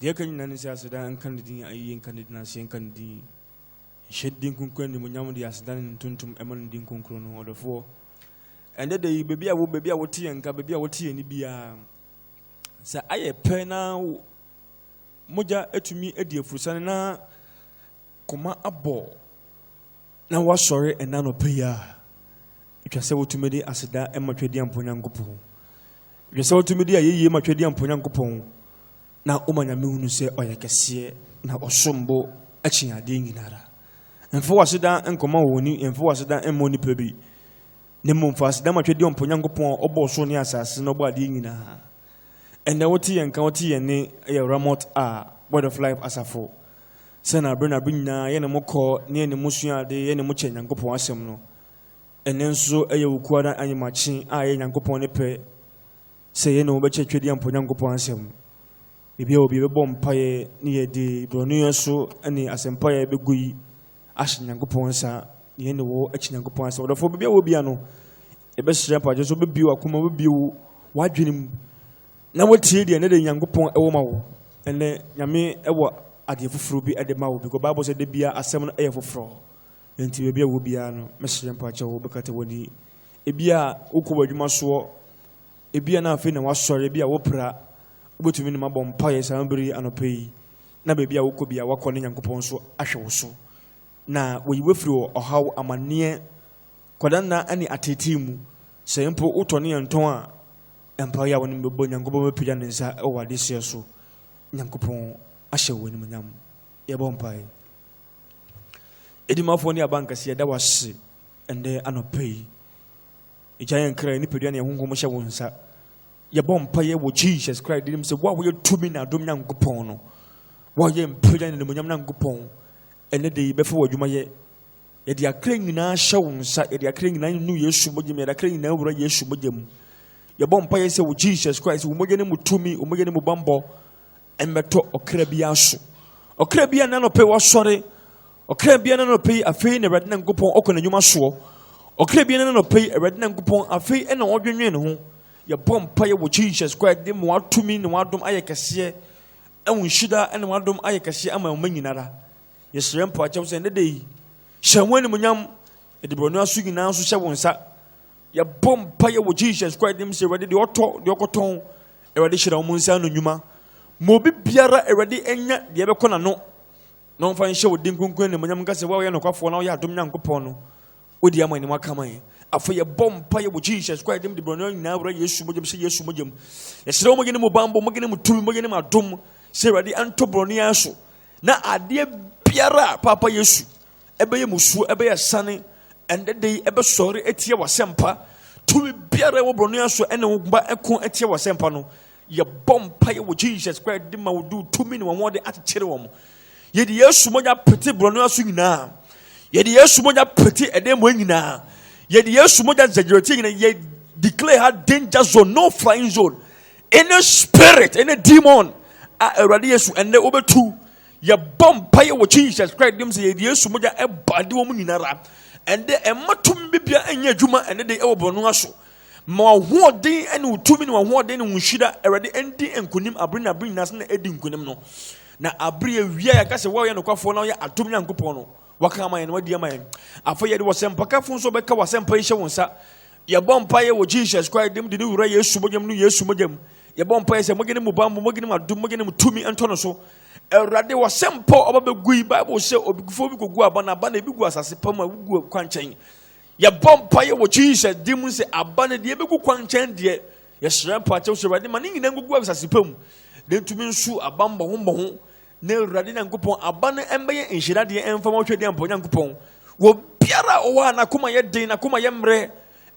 Deɛ ɛka nyinaa ne sɛ aseda nka ne din, ayɛyie nka ne din, aseɛ nka ne din. Nhyɛ ne din kronkron animuonyam de aseda ne ntontom ɛma ne din kronkron no. Ɔdɔfoɔ, ɛndɛ da yi, baabi a wo baabi a wote yɛn nka, baabi a wote yɛn ni biara, sɛ ayɛ pɛ na mogya atumi adi afurusane na Koma abɔ na woasɔre ɛnnɛ anɔpa yi a, ɛtwa sɛ wotumi de aseda ma Twadiampɔ Nyankopɔn. Ɛtwa sɛ wotumi de ayɛyie ma Twadiampɔ Nyankopɔn na woma Nyame hunu sɛ ɔyɛ kɛseɛ na ɔsom bo kyɛn adeɛ nyinara. Mfa w'aseda nkɔma wɔni, mfa w'aseda mmɔ nipa bi, na mmom fa aseda ma Twadiampɔ Nyankopɔn a ɔbɔɔ soro ne asase na ɔbɔɔ adeɛ nyinaa. Ɛnnɛ wote yɛn nka, wote yɛn nne yɛ Ramot a, Word of Life Asafo. Sɛ na bere na bere nyinaa yɛne mo kɔ na yɛne mo sua ade, yɛne mo kyɛ Nyankopɔn Asɛm no. Ɛnnɛ nso ɛyɛ wo kuo ara anyemakye a ɛyɛ Nyankopɔn ne pɛ sɛ yɛne wo bɛkyɛ Twedeɛmpo Nyankopɔn Asɛm. Baabi a obi bɛbɔ mpaeɛ ne yɛde borɔnoyɛ so ne asɛmpaeɛ bɛgu yi ahyɛ Nyankopɔn nsa, na yɛne wo akyi Nyankopɔn asɛ. Ɔdɔfoɔ baabi a wɔ bia no, yɛbɛhyerɛ mpakyɛ so wobɛbie wakoma, wobɛbie wo wadwene mu, na wotie deɛ ɛnɛ de Nyankopɔn ɛwɔ ma wo. Ɛnɛ Nyame ɛwɔ adeɛ foforɔ bi ɛde ma wo, because Bible sɛ da bia asɛm no ɛyɛ foforɔ. Ɛnti baabi a wɔ bia no, mɛhyerɛ mpakyɛ wo, bɛkata wani. Ebi a wokɔ w'adwuma soɔ, ebi a na afei na wasɔre, ebi a wopra, wobɛtumi ne mabɔ mpaeɛ saa bere anɔpa yi. na baabi a wokɔ bia woakɔ ne Nyankopɔn nso ahwɛ wo so na wayi wo afiri wɔ ɔhaw, amanneɛ, kwadanna ne ateetee mu. Sɛ mpo wotɔ ne yɛn tɔn a, mpaeɛ a wɔne bɛbɔ Nyankopɔn bɛpagya ne nsa wɔ adesoɛ so. Nyankopɔn ahyɛ wo animonyam. Yɛbɔ mpaeɛ. Edimafoɔ ne abankɛse yɛda wase ɛndɛ anɔpa yi. Egya yɛn kra, yɛn nipadua ne yɛn honhom hyɛ wo nsa. yɛbɔ mpaeɛ wɔ jesus christ dinim sɛ wo a woyɛ tumi na adom nyankopɔn no wo a woyɛ mpagya ne nomonyam nyankopɔn ɛnɛ de yɛbɛfa wɔ adwuma yɛ yɛde akra nyinaa hyɛ wo nsa yɛde akra nyinaa nu yesu mogya mu yɛde akra nyinaa wura yesu mogya mu yɛbɔ mpaeɛ sɛ wɔ jesus christ wo mogya ne mu tumi wo mogya ne mu bambɔ Ɛmmɛtɔ ɔkra biara so. Ɔkra biara na nɔpɛ wasɔre. Ɔkra biara na nɔpɛ yi afei na Awurade Nyankopɔn ɔkɔ n'anwuma soɔ. Ɔkra biara na nɔpɛ yi Awurade Nyankopɔn afei ɛna ɔdwenwen ne ho. Yɛbɔ mpa yɛ wɔ Jesus Christ de mu watumi ne wadom ayɛ kɛseɛ. Ɛwo nhyira ɛna wadom ayɛ kɛseɛ ama ɔma nyinara. Yɛsrɛ mpa kyɛw sɛ ɛnɛ da yi hyɛ ho animonyam ɛde brɔno aso nyinaa nso hyɛ wo nsa. Yɛbɔ mpaeɛ wɔ Jesus Christ dim sɛ Awurade deɛ ɔtɔ deɛ ɔkɔtɔn Awurade hyira wɔn nsa ano nnwuma ma obi biara Awurade anya deɛ ɛbɛkɔ n'ano na ɔmfa nhyɛ wo din kunkun animonyam nka sɛ woayɛ nokwafoɔ na woyɛ adom Nyankopɔn no wodi ama anim aka man afei yɛbɔ mpaeɛ wɔ Jesus Christ dim de borɔno nyinaa wura Yesu mogyam sɛ Yesu mogyam yɛsrɛ wo mogye ne mu bambɔ mogye ne mu tumi mogye ne mu adom sɛ Awurade ɛntɔ borɔno yɛn so na adeɛ biara Papa Yesu ɛbɛyɛ musuo, ɛbɛyɛ asiane, ɛnɛ de yi ɛbɛsɔre atia w'asɛmpa. Tumi biara ɛwɔ borɔno aso ɛne wo mma ɛko atia w'asɛmpa no. Yɛbɔ mpaeɛ wɔ Jesus Christ de ma wo do tumi ne wɔn wɔde akyekyere wɔn. Yɛde Yesu mogya pete borɔno aso nyinaa. Yɛde Yesu mogya pete ɛdɛn mmɔɛ nyinaa. Yɛde Yesu mogya zɛgyerɛtie nyinaa. Yɛ declare ha danger zone, no flying zone. Any spirit, any demon a Awurade Yesu ɛnɛ wobɛtu Yɛbɔ mpaeɛ wɔ Jesus Christ dim sɛ yɛde Yesu mogya ɛbɔ ade wɔ mu nyinara. Ɛnde ɛmma tumi bibia ɛnyɛ adwuma ɛne de ɛwɔ bɔne aso. Ma wahoɔden ɛne wo tumi ne wahoɔden ne wo nhyira Awurade ɛndi nkunim abere ne abere nyinaa sɛ na ɛdi nkunim no. Na abere awia yɛka sɛ woyɛ nokwafoɔ na woyɛ adom Nyankopɔn no. Waka ama yɛn na wadi ama yɛn. Afei yɛde wɔsɛmpakafo nso bɛka wɔasɛmpa yi hyɛ wo nsa. Yɛbɔ mpaeɛ wɔ Jesus Christ dim de ne wura Yesu mogyam no Yesu mogyam. Yɛbɔ mpaeɛ sɛ mogye ne mu bammɔ, mogye ne mu adom, mogye ne mu tumi ɛntɔ no so. Awurade, wɔhyɛ mpɔ ɔba bɛgu yi, Bible sɛ obigufoɔ bi kɔgu aba no aba na ebi gu asase pa mu a wogu kwankyɛn. Yɛbɔ mpaeɛ wɔ Jesus din mu sɛ aba no deɛ ebɛgu kwankyɛn deɛ yɛsrɛ mpaakyɛw sɛ Awurade ma ne nyinaa ngugu asase pa mu na ntumi nsu aba mmɔho mmɔho na Awurade Nyankopɔn aba no mmɛyɛ nhyira deɛ ɛmfa ma ɔhwɛdeɛ mpɔ Nyankopɔn wɔ biara a ɔwɔ a n'akoma yɛ den n'akoma yɛ mmerɛ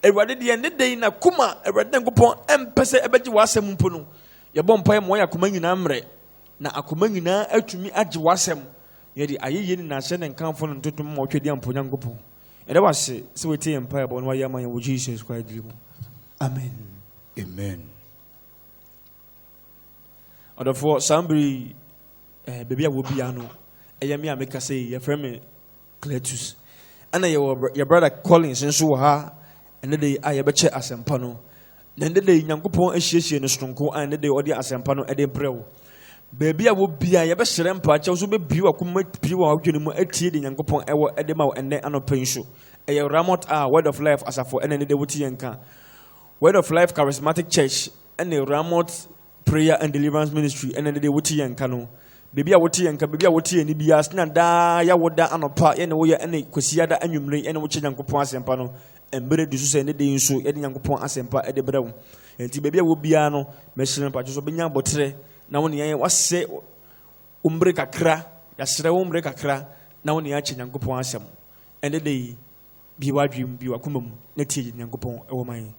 Awurade deɛ ne den n'akoma Awurade Nyankopɔn ɛmpɛ sɛ ɛbɛgye w'asɛm mpo no yɛbɔ mpaeɛ ma wɔyɛ akoma nyinaa mmerɛ na akoma nyinaa atumi agye w'asɛm na yɛde ayɛyie ne nahyɛ ne nkamfo no ntotom ma wɔtwa di ampa Onyankopɔn. Yɛda wase sɛ wotie yɛn mpaebɔ na wayɛ ama yɛn wɔ Jesus Christ din mu. Amen. Amen. Ɔdɔfoɔ saa mbere yi eh, baabi a wɔbia no ɛyɛ me a meka sɛ yɛfrɛ me Cletus. Ɛna yɛwɔ yɛ brada Collins nso wɔ ha ɛnɛ da yi a yɛbɛkyɛ asɛmpa no. Na ɛnɛ da yi Nyankopɔn asiesie no sononko a ɛnɛ da yi ɔde asɛmpa no ɛde brɛ wo. Baabi a wɔ bia yɛbɛhyerɛ mpaakyɛw so bɛbie wakoma pie wɔ adwene mu atie de Nyankopɔn ɛwɔ ɛde ma wo ɛnɛ anɔpa yi nso. Ɛyɛ Ramot a Word of Life asafo ɛna ɛnɛ da wote yɛn ka. Word of Life Charismatic Church ɛne Ramot Prayer and Deliverance Ministry ɛna ɛde wote yɛn nka no baabi a wote yɛn nka baabi a wote yɛn ni biara sena daa yɛ woda anɔpa yɛne woyɛ ɛne kwasiada anwummere yɛne wokyɛ nyankopɔn asɛmpa no mmerɛ du so sɛ ne den nso yɛde nyankopɔn asɛmpa ɛde brɛ wo ɛnti baabi a wɔ biara no mɛhyerɛ no patwo so bɛnya abɔterɛ na wo neɛ wasɛ wo mmerɛ kakra yɛaserɛ wo mmerɛ kakra na wo neɛ akyɛ nyankopɔn asɛm ɛne de yi bi wadwem bi wakoma mu na tie nyankopɔn ɛwɔ man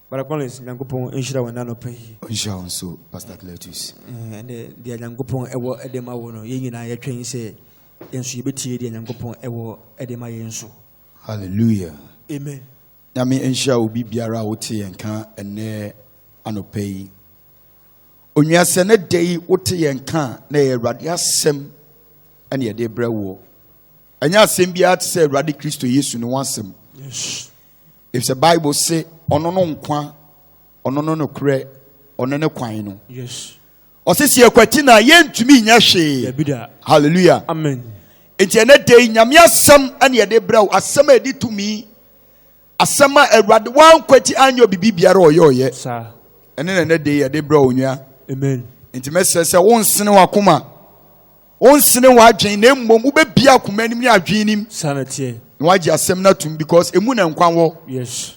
Brother Collins, Nyankopɔn nhyira wo ɛnɛ anɔpa yi. Ɔnhyira wo nso, Pastor Cletus. Ɛnde deɛ Nyankopɔn ɛwɔ ɛde ma wo no, yɛn nyinaa yɛtwɛn sɛ yɛn nso yɛbɛtie deɛ Nyankopɔn ɛwɔ ɛde ma yɛn nso. Hallelujah. Amen. Nyame nhyira obi biara a wote yɛn ka ɛnɛ anɔpa yi. Onua sɛ ne da yi wote yɛn ka na ɛyɛ Awurade asɛm ɛne yɛde brɛ woɔ. Ɛnyɛ asɛm biara te sɛ Awurade Kristo Yesu ne ho asɛm. Yes. efisɛ bible se ɔno no nkwa ɔno no nokorɛ ɔno ne kwan no ɔse sɛ yɛkwati no a yɛntumi nyɛ hwee halleluya nti ɛnɛ dei nyame asɛm ɛne yɛde brɛ wo asɛm a ɛdi tumi asɛm a awurade woankwati anyɛ biribi biara ɔyɛɔyɛ ɛne na ɛnɛ dei yɛde brɛ wo nwa nti mɛsrɛ sɛ wonsene wakoma Wonsene w'adwene na mmom wobɛbie akoma anim ne adwene nim. Saa na teɛ. Na wagye asɛm no atum because emu na nkwa wɔ. Yes.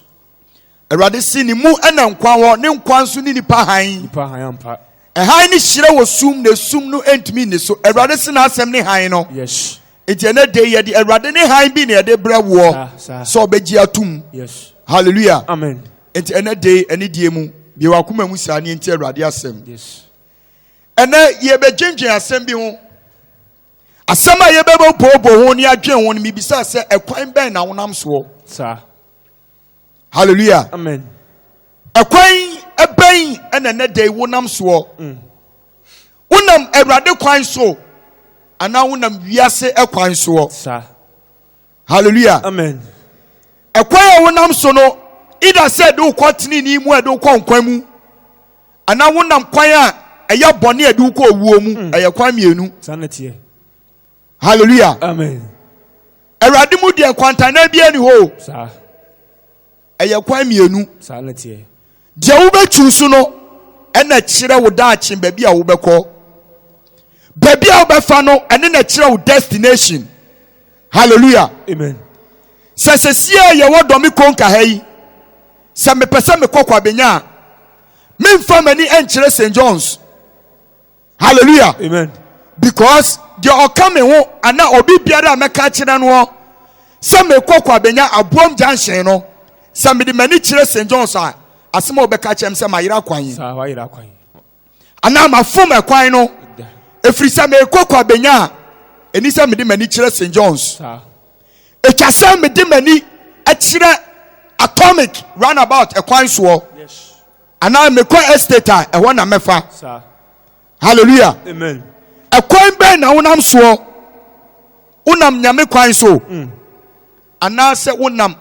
Awurade se ne mu na nkwa wɔ, ne nkwa nso ne nipa hann. Nipa hann ampa. Hann no hyerɛ wɔ sum na esum no ntumi nni so. Awurade se n'asɛm ne hann no. Yes. Nti ɛnɛ de yɛde Awurade ne hann bi na yɛde brɛ woɔ sɛ ɔbɛgye atum. Yes. Hallelujah. Amen. Nti ɛnɛ de ɛne die mu bie wakoma mu saa ne nti Awurade asɛm. Yes. Ɛnnɛ, yɛbɛdwendwen asɛm bi ho. Asɛm a yɛbɛbɛbooboo ho ne adwen ho no, mebisaa sɛ, ɛkwan bɛn na wonam soɔ? Saa. Hallelujah. Amen. Ɛkwan ɛbɛn ɛna ɛnɛ da yi wonam soɔ? Mm. Wonam Awurade kwan so anaa wonam wiase ɛkwan soɔ? Saa. hallelujah amen ɛkwan a wonam so no ida sɛ de wokɔ tenenee mu a de wokɔ nkwa mu anaa wonam kwan a ɛyɛ bɔne a de wokɔ owuo mu hmm. ɛyɛ kwan mmienu hallelujah amen awurade mu deɛ nkwantanan biara ni hɔ Ɛyɛ kwan mmienu. Saa na ɛteɛ. Deɛ wobɛtwiw so no ɛna ɛkyerɛ wo daakye baabi a wobɛkɔ. Baabi a wobɛfa no ɛne na ɛkyerɛ wo destination. Hallelujah. Amen. Sɛ sɛsiɛ yɛwɔ dɔme konka ha yi, sɛ mepɛ sɛ mekɔ kwabenya a, memfa m'ani nkyerɛ St. John's. hallelujah amen because deɛ ɔka me ho ana obi biara a mɛka kyerɛ no sɛ mekɔ kɔ abɛnya aboam junction no sɛ mede m'ani kyerɛ st johns a asɛm a wɔbɛka kyerɛ m sɛ mayera kwan yi anaa mafom ɛkwan no ɛfiri sɛ mekɔ kɔ abɛnya a ɛni sɛ mede m'ani kyerɛ st johns ɛtwa sɛ mede m'ani kyerɛ atomic runabout ɛkwan soɔ anaa mekɔ estate a ɛhɔ na mɛfa hallelujah amen ɛkwan bɛn na wonam soɔ wonam nyame kwan soɔ mm. anaasɛ wonam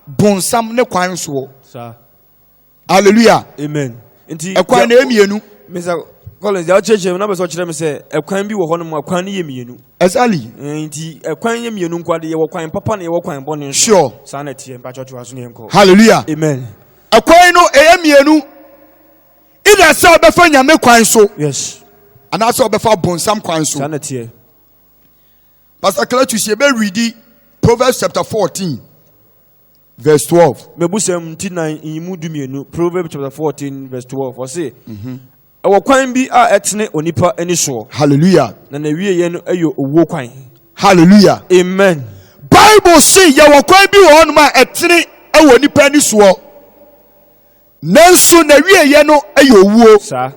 bonsam ne kwan soɔ hallelujah amen nti ɛkwan na ɛmienu mr collins deɛ ɔkyerɛkyerɛ mu na bɛ sɛ ɔkyerɛ mi sɛ ɛkwan bi wɔ hɔ nom ɛkwan no yɛ mmienu exactly nti ɛkwan yɛ mmienu nko adeɛ yɛwɔ kwan papa na yɛwɔ kwan bɔne sure saa na ɛteɛ mpakyɛ ɔtoa so ne yɛnkɔ hallelujah amen Ɛkwan no ɛyɛ mmienu. Either sɛ ɔbɛfa nyame kwan so. Yes. Anaasɛ ɔbɛfa bonsam kwan so. Saa na teɛ. Pastor Cletus yɛ bɛ readi Proverbs chapter fourteen verse twelve. Mebusɛm nti nan nyimu dumienu Proverbs chapter fourteen verse twelve ɔse. Mm -hmm. Ɛwɔ kwan bi a ɛtene onipa ani soɔ. Hallelujah. Na n'awieɛ no yɛ owuo kwan. Hallelujah. Amen. Bible se yɛwɔ kwan bi wɔ hɔnom a ɛtene wɔ nipa ani soɔ. Nanso n'awieɛ no yɛ owuo. Saa.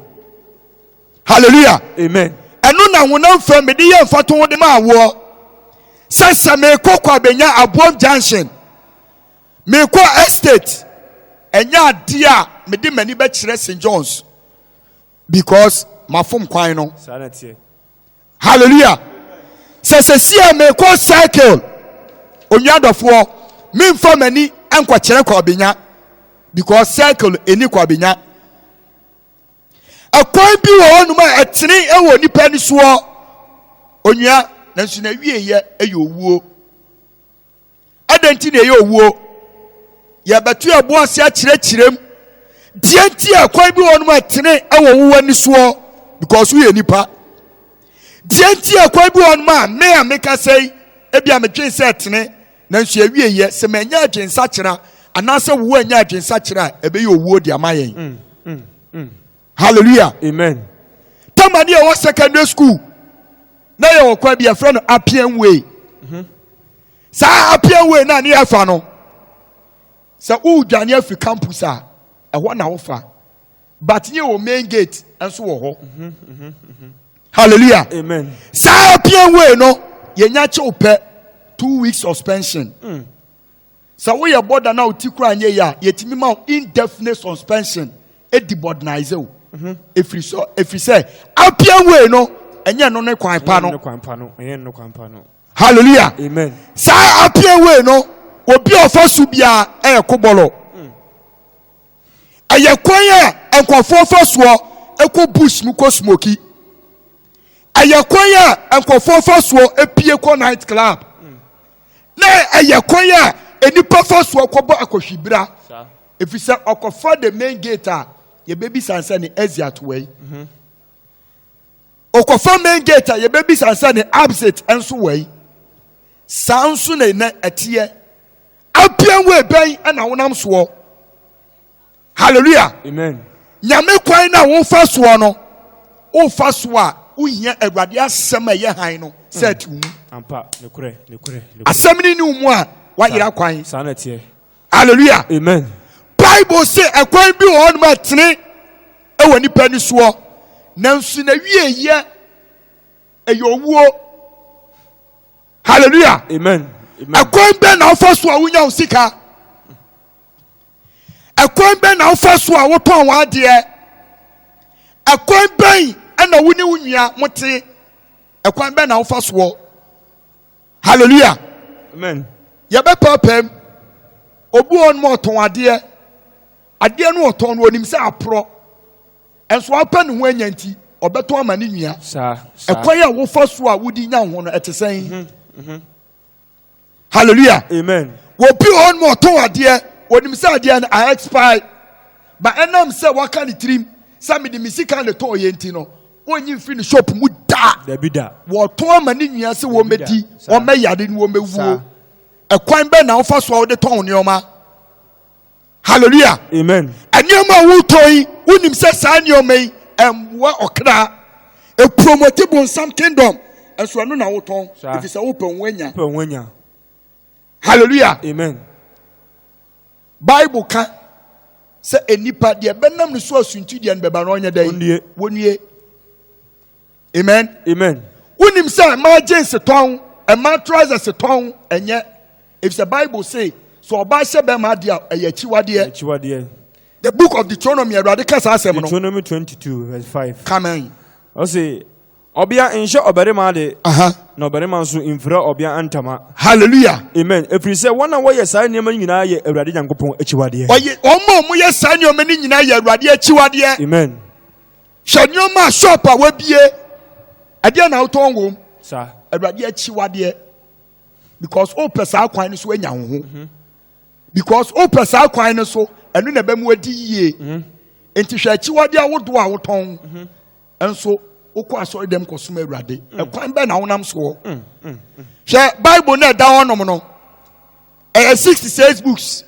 Hallelujah. Amen. Ɛno na honam fam mede yɛ mfato de ma awoɔ. Sɛ sɛ mekɔ kɔ abɛnya aboam junction. Mekɔ estate ɛnyɛ adeɛ a mede m'ani bɛkyerɛ St John's because mafom kwan no. Hallelujah. Sɛ sɛsi a mekɔ circle onua dɔfoɔ memfa m'ani nkɔkyerɛ kwabenya because circle ɛni kwabenya. Ɛkwan bi wɔ hɔnom a ɛtene ɛwɔ nipa ni soɔ onua nanso na ɛwieɛ ɛyɛ owuo. Adɛn nti na ɛyɛ owuo? Yɛbɛto yɛn bo ase akyerɛkyerɛ mu. Deɛ nti a kwan bi wɔ nom a ɛtene wɔ nwowɔ ani soɔ because woyɛ nipa. Deɛ nti a kwan bi wɔ nom a me a meka sɛ yi ebi a medwen sɛ ɛtene nanso ɛwie yɛ sɛ manya adwensakyera anaasɛ wowɔ anya adwensakyera a ɛbɛyɛ owuo de ama yɛn. Mm, mm, mm. hallelujah amen tamani a ɔwɔ secondary school na yɛ wɔ kwan bi yɛfrɛ no appian way mhm. saa appian way na ne yɛfa no sɛ wodwane afi campus a ɛhɔ na wofa but yɛ wɔ main gate nso wɔ hɔ mhm, mhm, hallelujah amen saa appian way no yɛnya kyew pɛ two weeks suspension mm. Sɛ woyɛ bɔda na wo ti kora nyɛ yie a, yɛtumi ma wo indefinite suspension ɛdi bɔdnaize wo. Ɛfiri sɛ, ɛfiri sɛ, appian way no, ɛnyɛ no ne kwan pa no. Hallelujah. Amen. Saa appian way no, obi a ɔfa so biara ɛyɛ kobɔlɔ. Ɛyɛ kwan a nkɔfoɔ fa soɔ ɛkɔ bush mu kɔ smoky. Ɛyɛ kwan a nkɔfoɔ fa soɔ ɛpie kɔ night club. na ɛyɛ kwan a nnipa fa so kɔbɔ akɔhwibra efisɛ ɔkɔfa the main gate a yɛbɛbisa nsɛ ne exit wɔ yi ɔkɔfa mhm. main gate a yɛbɛbisa nsɛ ne absit nso wɔ yi saa nso na ɛnɛ ɛteɛ apian wɔ ebɛn na wonam soɔ halleluya nyame kwan na wofa soɔ no wofa so a wohia awurade asɛm a ɛyɛ han no sɛ ati wo mu asɛm no ni wo mu a woayera kwan halleluya bible sɛ ɛkwan bi wɔ hɔ nom ɛtene ɛwɔ nipa ni soɔ nanso na wieyɛ ɛyɛ owuo halleluya ɛkwan bɛ na wofa so a wonya wo sika ɛkwan bɛn na wofa so a wotɔn w'adeɛ ɛkwan bɛn ɛna wo ne wo nua mo te ɛkwan bɛn na wofa soɔ hallelujah amen yɛbɛpɛpɛm obi wɔn mu ɔtɔn adeɛ adeɛ no ɔtɔn no onim sɛ aporɔ ɛnso apɛ ne ho anya nti ɔbɛtɔn ama ne nua ɛkwan a wofa so a wodi nya ho no ɛte sɛn. Mm -hmm. Mm -hmm. hallelujah amen wɔbi wɔ hɔ nom ɔtɔn adeɛ wɔnim sɛ adeɛ no a expire ba ɛnam sɛ waka ne tirim sɛ mede me sika ne tɔɔ yɛ nti no wɔnyi mfiri ne shop mu da wɔtɔn ama ne nua sɛ wɔmɛdi wɔmɛyare ne wɔmɛwuo ɛkwan bɛn na wofa so a wode tɔn nneɛma hallelujah amen nneɛma a wotɔn yi wonim sɛ saa nneɛma yi ɛmmoa ɔkra ɛpromɔte bonsam kingdom ɛnso ɛno na wotɔn ɛfiri sɛ wopɛ wo anya pɛ ho anya hallelujah amen bible ka sɛ nnipa deɛ bɛnam ne so asunti deɛ no bɛba no ɔnyɛ dɛn wɔnnie amen amen wonim sɛ ɛma jeans tɔn ɛma trousers tɔn ɛnyɛ efisɛ bible say so ɔbaa hyɛ bɛrima adeɛ a ɛyɛ akyiwadeɛ akyiwadeɛ the book of deuteronomy awurade ka saa asɛm no deuteronomy 22 verse 5 kamen ɔse ɔbea nhyɛ ɔbarima ade na ɔbarima nso mfira ɔbea ntama hallelujah amen ɛfiri sɛ wɔn a wɔyɛ saa nneɛma no nyinaa yɛ awurade nyankopɔn akyiwadeɛ ɔyɛ wɔn a wɔyɛ saa nneɛma no nyinaa yɛ awurade akyiwadeɛ amen Hwɛ nneɛma a shop a wabie ɛdeɛ na wotɔn wom. Sa. Awurade akyiwadeɛ because wopɛ saa kwan no so anya wo ho. Mhm. Because wopɛ saa kwan no so ɛno na ɛbɛmu adi yie. Mhm. Nti hwɛ akyiwadeɛ ahodoɔ a wotɔn mhm. nso wokɔ asɔre dɛm kɔsom awurade. Ɛkwan bɛn na wonam soɔ. Mm, mm, mm. Hwɛ Bible na ɛda hɔnom no ɛyɛ sixty six books.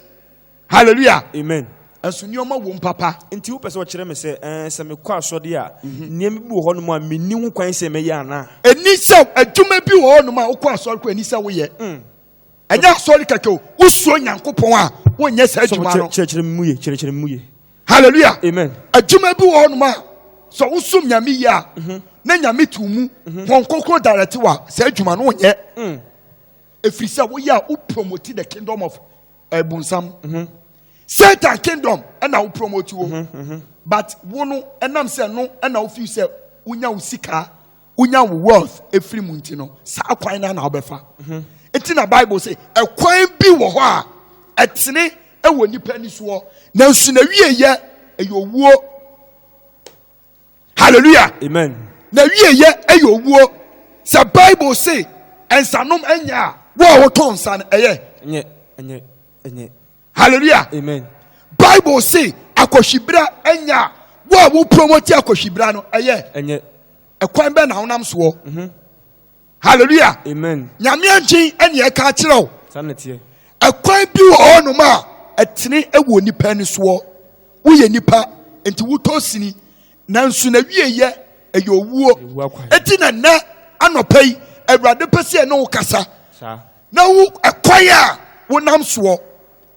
hallelujah amen ɛso nneɛma wom papa nti wopɛ sɛ ɔkyerɛ me sɛ ɛɛ sɛ mekɔ asɔde a mhm. nneɛma bi wɔ hɔnom a menni ho kwan sɛ mɛyɛ anaa ɛni sɛ adwuma bi wɔ hɔnom a wokɔ asɔre kɔ ɛni sɛ woyɛ mm. ɛnyɛ asɔre kɛkɛ o wosuo nyankopɔn a wonyɛ saa adwuma no kyerɛkyerɛ mu ye kyerɛkyerɛ mu ye hallelujah amen adwuma bi wɔ hɔnom a sɛ wosom nyame yie a mhm. na nyame tu mu mhm. wɔn kɔkɔ darɛte wa saa adwuma no wonyɛ ɛfiri sɛ woyɛ a wo promote the kingdom of ɛbonsam mhm. satan kingdom ɛna wo promote wo mhm, mhm. but wo no ɛnam sɛ no ɛna wo feel sɛ wonya wo sika wonya wo wealth efiri mu nti no saa kwan no na wobɛfa eti na bible sɛ ɛkwan bi wɔ hɔ a ɛtene ɛwɔ nipa ni soɔ nanso na wie yɛ ɛyɛ owuo hallelujah amen na wie yɛ ɛyɛ owuo sɛ bible se nsanom ɛnyɛ a wo a wotɔn nsa no ɛyɛ ɛnyɛ ɛnyɛ ɛnyɛ hallelujah amen bible se akɔhwibra ɛnyɛ a wo a wo promote akɔhwibra no ɛyɛ ɛnyɛ ɛkwan bɛ na honam soɔ mhm. hallelujah amen nyame angyen ɛne ɛka akyerɛ wo ɛkwan bi wɔ hɔ nom a ɛtene wɔ nipa ani soɔ woyɛ nipa nti wotɔ sini nanso na wieyɛ ɛyɛ owuo ɛti na nnɛ anɔpa yi awurade pɛ sɛ ɛne wo kasa na wo ɛkwan a wonam soɔ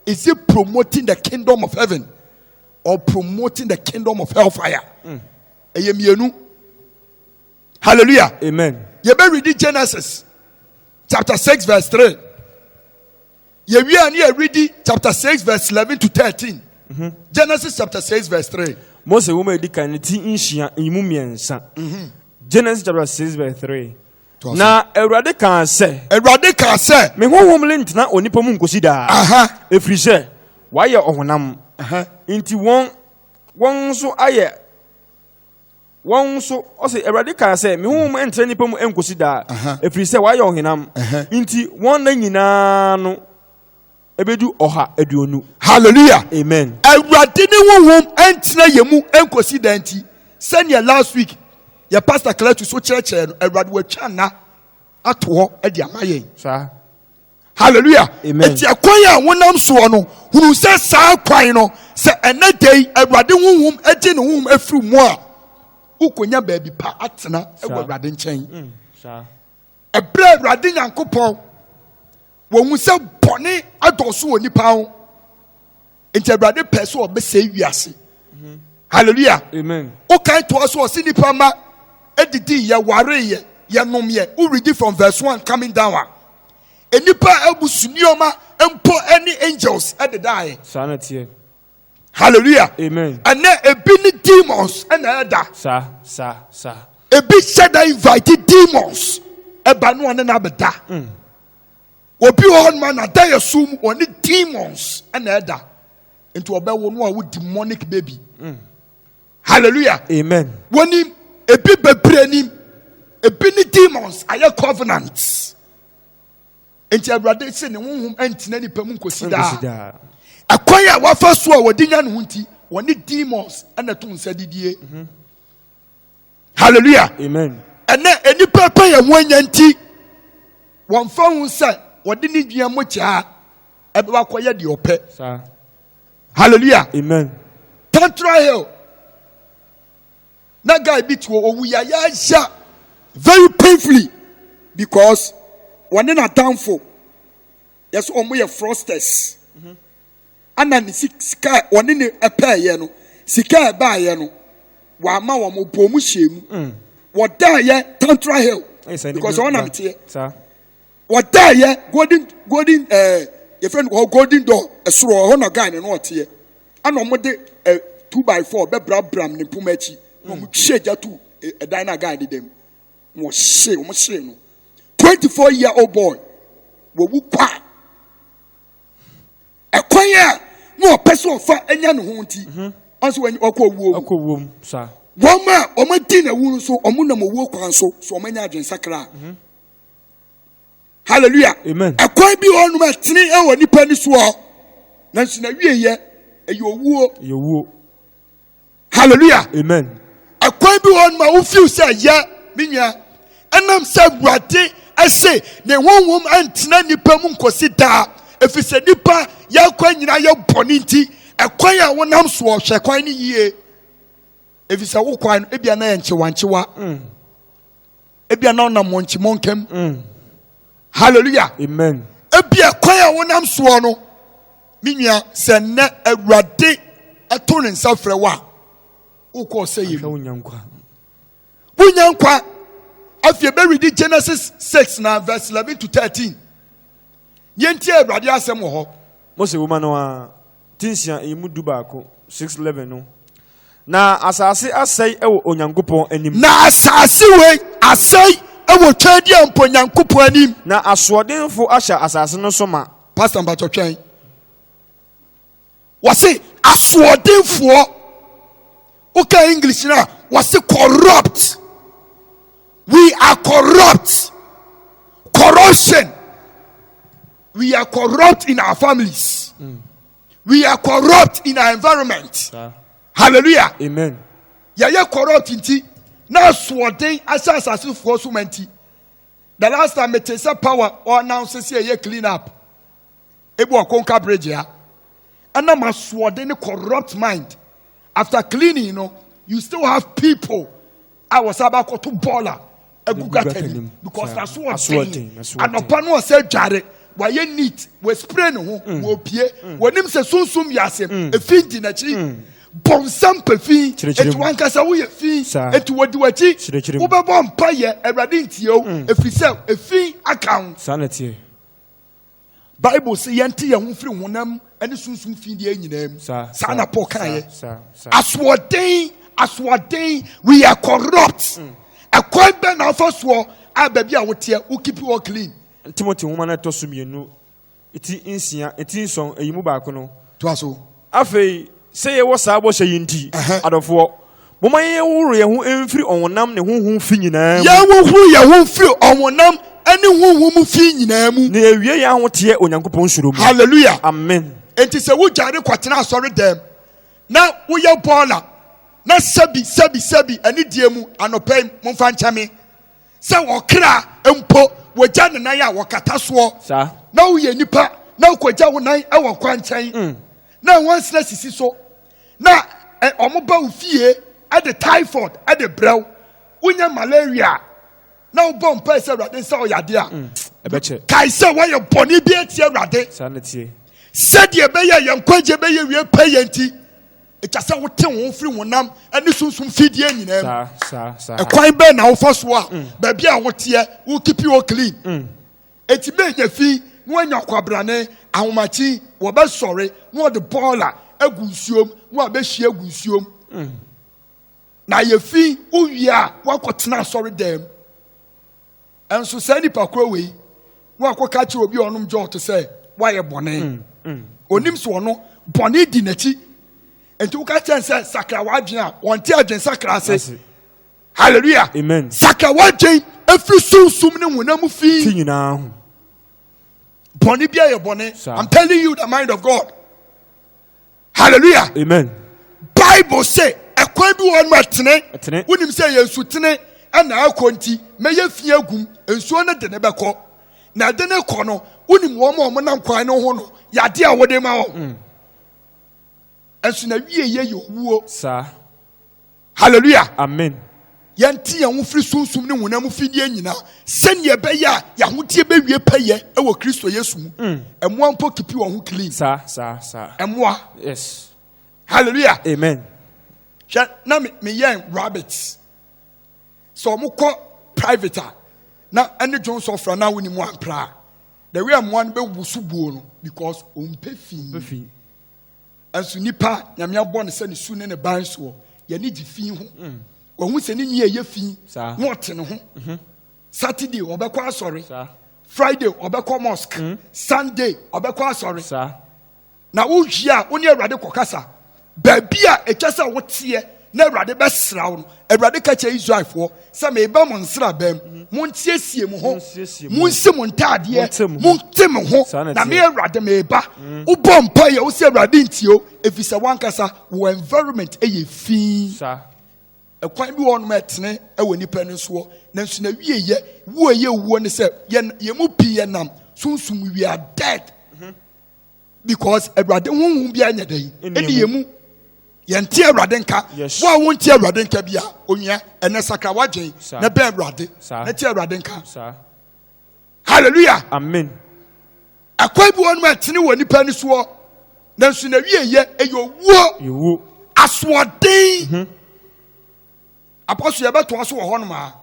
is it promoting the kingdom of heaven or promoting the kingdom of hellfire mm. ɛyɛ mmienu hallelujah amen yɛbɛ redi genesis chapter six verse three yɛwie a ne yɛ redi chapter six verse eleven to thirteen mhm. genesis chapter six verse three. mose wɔn a yɛdi kan ne ti nhyia nyimu mmiɛnsa mhm. genesis chapter six verse three na awurade kaa sɛ awurade kaa sɛ me honhom le ntena onipa mu nkosi daa ɛfiri sɛ wayɛ ɔhonam nti wɔn wɔn nso ayɛ wɔn nso ɔse awurade kaa sɛ me honhom mm. ntra nnipa mu nkosi daa ɛfiri sɛ wɔayɛ ɔhenam nti wɔn nna nyinaa no ɛbɛdu ɔha aduonu halleluya amen awurade ne honhom ntra yɛ mu nkosi daa nti sɛnea last week yɛ pastor cletus so kyerɛkyerɛ no awurade watwa nna ato hɔ de ama yɛn saa hallelujah eti ɛkwan a wonam soɔ no hunu sɛ saa kwan no sɛ ɛnɛ da yi awurade honhom ɛgye ne honhom afiri mu a wokonya baabi pa atena ɛwɔ awurade nkyɛn mm, ɛbrɛ awurade nyankopɔn wɔn sɛ bɔne adɔso wɔ nipa ho nti awurade pɛ sɛ ɔbɛsɛe wiase mhm. hallelujah amen wokan toa so ɔse nipa ma ɛdidi yɛ wareyɛ yɛnom yɛ wo reading from verse one coming down a e nipa a ɛbu su nneɛma mpo ɛne angels ɛdedaeɛ saa na teɛ hallelujah amen ɛnɛ ebi ne demons ɛna ɛda saa saa saa ebi hyɛ da invite demons ɛba no ɔne na abɛda mm. obi wɔ hɔnom a n'adayɛso mu ɔne demons na ɛda nti ɔbɛwo no a wo demonic baby mm. hallelujah amen wɔnim ebi bebree nim ebi ne demons ayɛ covenants nti awurade sɛ ne honhom ntina nipa mu nkosi daa ɛkwan a wafa so a wɔde nya ne ho nti wɔne demons na to nsa didie. Mm -hmm. hallelujah amen ɛnɛ nnipa pɛ yɛn ho anya nti wɔmfa ho sɛ wɔde ne dua mu kyaa ɛbɛba akɔyɛ deɛ ɔpɛ hallelujah amen tantra hill na guy bi tuo owu yayaya very painfully because wɔne n'atamfo yɛsɛ wɔn yɛ frosters ɛna ne sika a wɔne ne pɛɛyɛ no sika a ɛbaeɛ no wama wɔn bɔɔ mu hyɛɛ mu mm. wɔdaeɛ tantra hill because ɔnam teɛ wɔdaeɛ golden golden ɛɛ eh, yɛfrɛ no hɔ golden door ɛsoro hɔ na guy no na ɔteɛ ɛna wɔn de ɛ eh, two by four bɛbrabram ne mpoma akyi na wɔn hyɛ gya tu ɛdan eh, na guy de dɛm na wɔhyɛ wɔn hyɛ no twenty four year old boy wɔwu kwaa. ɛkwan a na ɔpɛ sɛ ɔfa anya ne ho nti mhm. ɔnso ɔkɔ owuo mu ɔkɔ owuo mu saa wɔn a wɔn adi na ewu nso wɔn nam owuo kwan so so wɔn anya adwensakra mhm. hallelujah amen ɛkwan bi wɔn a ɛtene ɛwɔ nipa ni soɔ nanso na wie yɛ ɛyɛ owuo ɛyɛ owuo hallelujah amen ɛkwan bi wɔn ma wofiw sɛ yɛ me nua ɛnam sɛ awurade ɛse ne honhom ɛntena nipa mu nkosi daa efisɛ nipa yɛkɔ nyinaa yɛ bɔ ne nti ɛkwan a wonam soɔ hwɛ kwan ne yie efisɛ wo kwan no ebia na yɛ nkyewankyewa mm. ebia na ɔnam mɔnkye mɔnkam mm. hallelujah amen ebia kwan a wonam soɔ no me nua sɛ nnɛ awurade ɛto ne nsa frɛ wo a wokɔ sɛ yɛ mu wonya nkwa wonya nkwa afei bɛredi genesis 6 na verse 11 to 13 yɛntie awurade asɛm wɔ hɔ mose woma no a ti nsia, eyi mu dubaako, six eleven no, na asase asɛe wɔ Onyankopɔn anim. Na asase wei asɛe wɔ Twɛdi a mpo Onyankopɔn anim. Na asoɔdenfo ahyɛ asase no so ma. Pastor Mpatɔ twɛn. Wɔse asoɔdenfoɔ. Woka English no a, wɔse corrupt. We are corrupt. Corruption. we are corrupt in our families mm. we are corrupt in our environment hallelujah amen yɛyɛ corrupt nti na asoɔden ahyɛ asasefoɔ so ma nti the last time mete sɛ power ɔannounce sɛ ɛyɛ clean up ebi wɔ konka bridge ya ɛnam asoɔden ne corrupt mind after cleaning you know you still have people a wɔsan ba kɔto bɔɔl a egu gata nim because na so ɔden anɔpa no ɔsɛ dware wayɛ neat wɔ spray ne ho mm. wɔ pie mm. wɔnim sɛ sunsun yɛ asɛm mm. efi di n'akyi mm. bɔnsam pɛ fi eti wankasa woyɛ fi eti wɔdi w'akyi wobɛbɔ mpa yɛ awurade ntie o mm. efi sɛ efi aka ho. saa na tie. bible sɛ yɛnte yɛn ho mfiri honam ne sunsum fi deɛ nyinaa mu saa na paul kaeɛ asoɔden asoɔden we are corrupt mm. ɛkwan bɛ na afa soɔ a baabi a woteɛ wo keep all clean ntimoti nwoma no ɛtɔ so mmienu ɛti nsia ɛti nsɔn ɛyi mu baako no toa so Afei, sɛ yɛwɔ saa bɔhyɛ yi nti, adɔfoɔ, momma yɛnhohoro yɛn ho mfiri ɔhonam ne honhom fi nyinaa mu. Yɛnhohoro yɛn ho mfiri ɔhonam ne honhom mu fi nyinaa mu. Na yɛwie yɛn ahoteɛ Onyankopɔn suro mu. Hallelujah. Amen. Enti sɛ wodware kɔtena asɔre dɛm na woyɛ bɔɔla na sɛbi sɛbi sɛbi anidie mu anɔpa yi momfa nkyɛ me. sɛ ɔkra mpo wɔgya ne nan a wɔkata soɔ na woyɛ nipa na wokɔgya wo nan wɔ kwankyɛn mm. na nwansena sisi so na ɔmoba wo fie de typhoid de brɛw wonya malaria na wobɔ mpae sɛ awurade nsa ɔyade a mm. kae sɛ woayɛ bɔne bi atia awurade sɛdeɛ ɛbɛyɛ yɛn nkwagye bɛyɛ wie pɛ yɛ nti Ɛkyɛ sɛ wote wɔn firi honam ne sunsum fidie nyinaa mu. Saa, saa, saa. Ɛkwan bɛn na wofa so a mm. baabi a woteɛ wo kipi wo clean. Mm. Eti bɛnya fi na wanya kwabrane ahomakye wɔbɛsɔre na wɔde bɔɔla agu nsuom na wɔabɛhyia agu nsuom. Mm. Na yɛfi wowie a woakɔtena asɔre dɛm. Nanso saa nipa korɔ wei wakɔka kyerɛ obi a ɔnom jɔɔto sɛ wayɛ bɔne. Mm, mm, Onim mm. so ɔno bɔne di n'akyi. Nti woka kyɛn sɛ sakra w'adwene a wɔnte adwene sakra ase. Hallelujah. Amen. Sakra w'adwene efiri sunsum ne honam fi. Ti nyinaa ho. Bɔne bi a yɛ bɔne. I'm telling you the mind of God. hallelujah amen bible sɛ ɛkwan bi wɔ hɔ no ɛtene wonim sɛ yɛ nsutene ɛna akɔ nti mɛyɛ fi agum nsuo no de ne bɛkɔ na ɛde ne kɔ no wonim wɔn a wɔnam kwan no ho no yade a wɔde ma wɔn mm. ɛnso na wie yɛ yɛ owuo saa Hallelujah. Amen. Yɛnte yɛn ho firi sunsum ne honam fidie nyinaa sɛnea ɛbɛyɛ a yɛahoteɛ bɛwie pɛyɛ wɔ Kristo Yesu mu. Mm. Ɛmoa mpo kipi wɔn ho clean. Saa saa saa. Ɛmoa. Yes. Hallelujah. Amen. Hwɛ na me me yɛn rabbits. So wɔn kɔ private a na ɛne dwon sɔfra na wɔn mu ampra. The way ɛmoa no bɛ wusu buo no because wɔn pɛ fi. Nanso nipa, Nyame abɔ no sɛ ne su ne ne ban soɔ. Yɛne gye fi ho. Mm. Wahu sɛ ne nwi ɛyɛ fi na ɔte ne ho. Mm-hmm. Saturday ɔbɛkɔ asɔre. Friday ɔbɛkɔ mosque. Mm. Sunday ɔbɛkɔ asɔre. Na wowie a wo ne Awurade kɔkasa. Baabi a ɛkyɛ sɛ woteɛ na awurade bɛsra wo no awurade ka kyerɛ israelfoɔ sɛ meba mo nsraban mu montiesie mo ho monsi mo ntaadeɛ monte mo ho na me awurade meba mm. wobɔ mpa yɛ wo sɛ awurade ntio ɛfiri sɛ woankasa wo environment ɛyɛ fii ɛkwan bi wɔ nom ɛtene ɛwɔ nipa no soɔ nanso na wieyɛ wuo yɛ wuo ne sɛ yɛn mu pii yɛ nam sunsum we are dead mm-hmm. because awurade honhom biara nyɛ dɛn ɛne yɛ mu yɛnte awurade nka wo a wonte awurade nka bia onua ɛnɛ sakra woadwen na bɛn awurade na te awurade nka hallelujah amen ɛkwan bi wɔnom ɛtene wɔ nipa ni soɔ nanso na wie yɛ ɛyɛ owuo asoɔden mhm. apɔso yɛbɛtoa so wɔ hɔnom a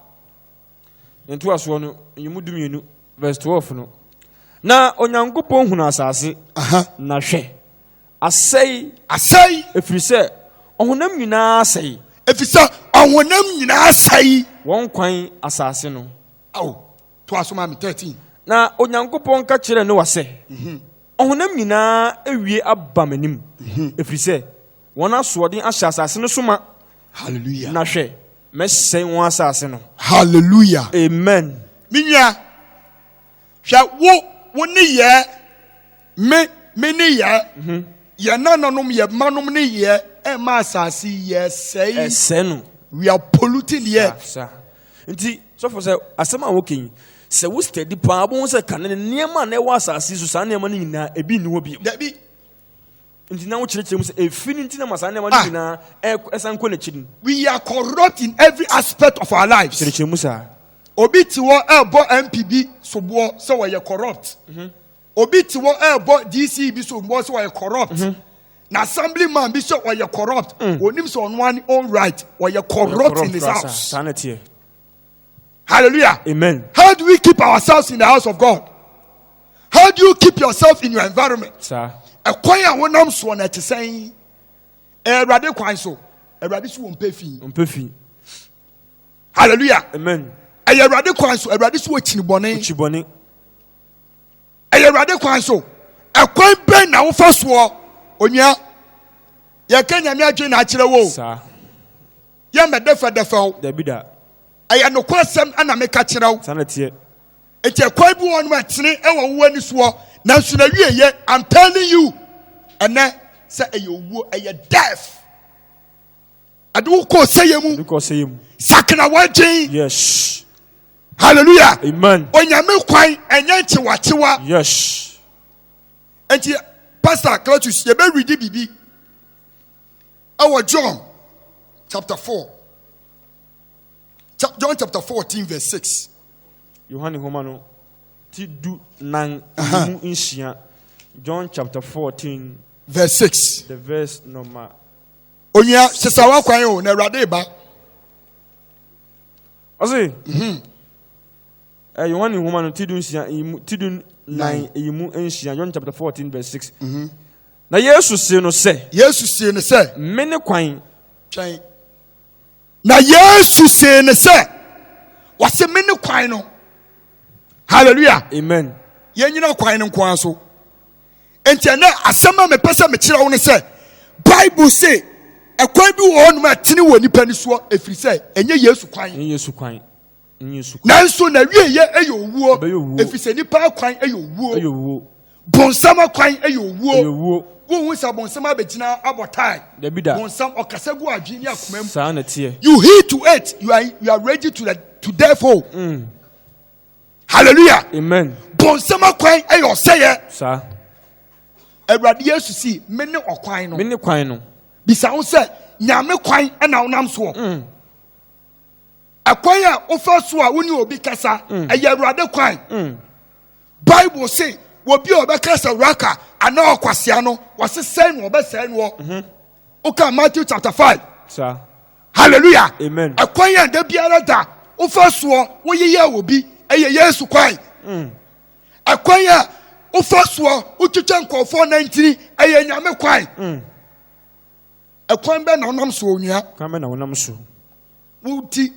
Ne ntoasoɔ no, Nyimu dumienu, verse 12 no. Na Onyankopɔn hunu asase, na hwɛ, asɛe. Asɛe. Ɛfiri sɛ ɔhonam nyinaa asɛe. Ɛfiri sɛ ɔhonam nyinaa asɛe. Wɔn kwan asase no. Ao, to aso ma me 13. Na Onyankopɔn ka kyerɛɛ Noa sɛ, mhm. Ɔhonam nyinaa awie aba m'anim, mhm. ɛfiri sɛ wɔn asoɔden ahyɛ asase no so ma. Hallelujah. Na hwɛ, Mɛsɛe wɔn asase no. Hallelujah. Amen. Me nua, hwɛ wo wo ne yɛ me me ne yɛ mhm. yɛ nananom yɛ manom ne yɛ ɛma asase yɛ sɛe. Ɛsɛ no. We are polluting the earth. Nti sɔfo sɛ asɛm a wɔkɛ yi sɛ wo steady paa bɛhu sɛ kane nneɛma a na ɛwɔ asase so saa nneɛma no nyinaa ebi nni hɔ bio. Dabi Nti na wokyerɛkyerɛ mu sɛ efi no nti na ma saa nneɛma no ah. nyinaa ɛsan kɔ n'akyi no. We are corrupt in every aspect of our lives. Kyerɛkyerɛ mu saa. Obi te hɔ ɛrebɔ MP bi soboɔ sɛ wɔyɛ corrupt. Mhm. Obi te hɔ ɛrebɔ DC bi soboɔ sɛ wɔyɛ corrupt. Mhm. Na assembly man bi sɛ wɔyɛ corrupt. Mm. Onim sɛ ɔno ani own right wɔyɛ corrupt in his house. Saa na teɛ. Hallelujah. Amen. How do we keep ourselves in the house of God? How do you keep yourself in your environment? Ɛkwan a wonam soɔ na ɛte sɛn? Awurade kwan so. Awurade so wɔ mpɛ fi. Mpɛ fi. Hallelujah. Amen. Ɛyɛ Awurade kwan so. Awurade so wɔ kyini bɔne. Kyini bɔne. ɛyɛ awurade kwan so ɛkwan bɛn na wofa soɔ onua yɛka nyame adwene na akyerɛ wo yɛmmɛdɛfɛdɛfɛ wo ɛyɛ nokorɛ sɛm ana meka kyerɛ wo nti ɛkwan bi wɔ nom ɛtene ɛwɔ wo ani soɔ nanso na wie yɛ i'm telling you ɛnɛ sɛ ɛyɛ owuo ɛyɛ death ɛde wo kɔ sɛyɛ mu sakena w'adwen yes hallelujah amen onyame kwan ɛnyɛ nkyewakyewa yes nti pastor cletus yɛbɛredi biribi ɛwɔ john chapter 4 john chapter 14 verse 6 yohane homa no ti du nan mu nsia john chapter 14 verse 6 the verse number onua sesawa kwan o na awurade ba ɔse mhm. eh, yohane nhoma no ti du nsia eyi mu ti du nan eyi mu nsia john chapter fourteen verse six mhm. na yesu see no sɛ yesu see no sɛ me ne kwan twɛn na yesu see no sɛ wɔse me ne kwan no hallelujah amen yɛnyina kwan no nkoa so Enti ɛnɛ asɛm a mepɛ sɛ mekyerɛ wo ne sɛ Bible se ɛkwan bi wɔ hɔnom a ɛtene wɔ nipa ni soɔ ɛfiri sɛ ɛnyɛ Yesu kwan. Ɛnyɛ Yesu kwan. Nanso na wieyɛ ɛyɛ owuo ɛfiri sɛ nipa akwan ɛyɛ owuo. Bonsam akwan ɛyɛ owuo. Wohu sɛ bonsam abɛgyina abɔ tae. Bonsam ɔkasa gu adwene ne akoma mu. Saa na ɛteɛ. You heed to it, you are, you are ready to, the, to death o. Oh. Mm. hallelujah amen bɔnsɛm akwan ɛyɛ ɔsɛyɛ saa awurade yesu si me ne ɔkwan no me ne kwan no bisa ho sɛ nyame kwan ɛna wonam soɔ mm. ɛkwan a wofa so a wone obi kasa mm. ɛyɛ awurade kwan mm. bible se obi a ɔbɛka sɛ wuraka anaa ɔkwasea no wɔsesɛe no ɔbɛsɛe noɔ mhm. woka matthew chapter 5 saa hallelujah amen ɛkwan yɛ da biara da wofa soɔ woyeyɛ wɔ bi ɛyɛ yesu kwan mm. ɛkwan yɛ wofa soɔ wotwitwa nkɔɔfoɔ na ntini ɛyɛ nyame kwan mm. ɛkwan bɛ na wonam so onua kwan bɛ na wonam so woti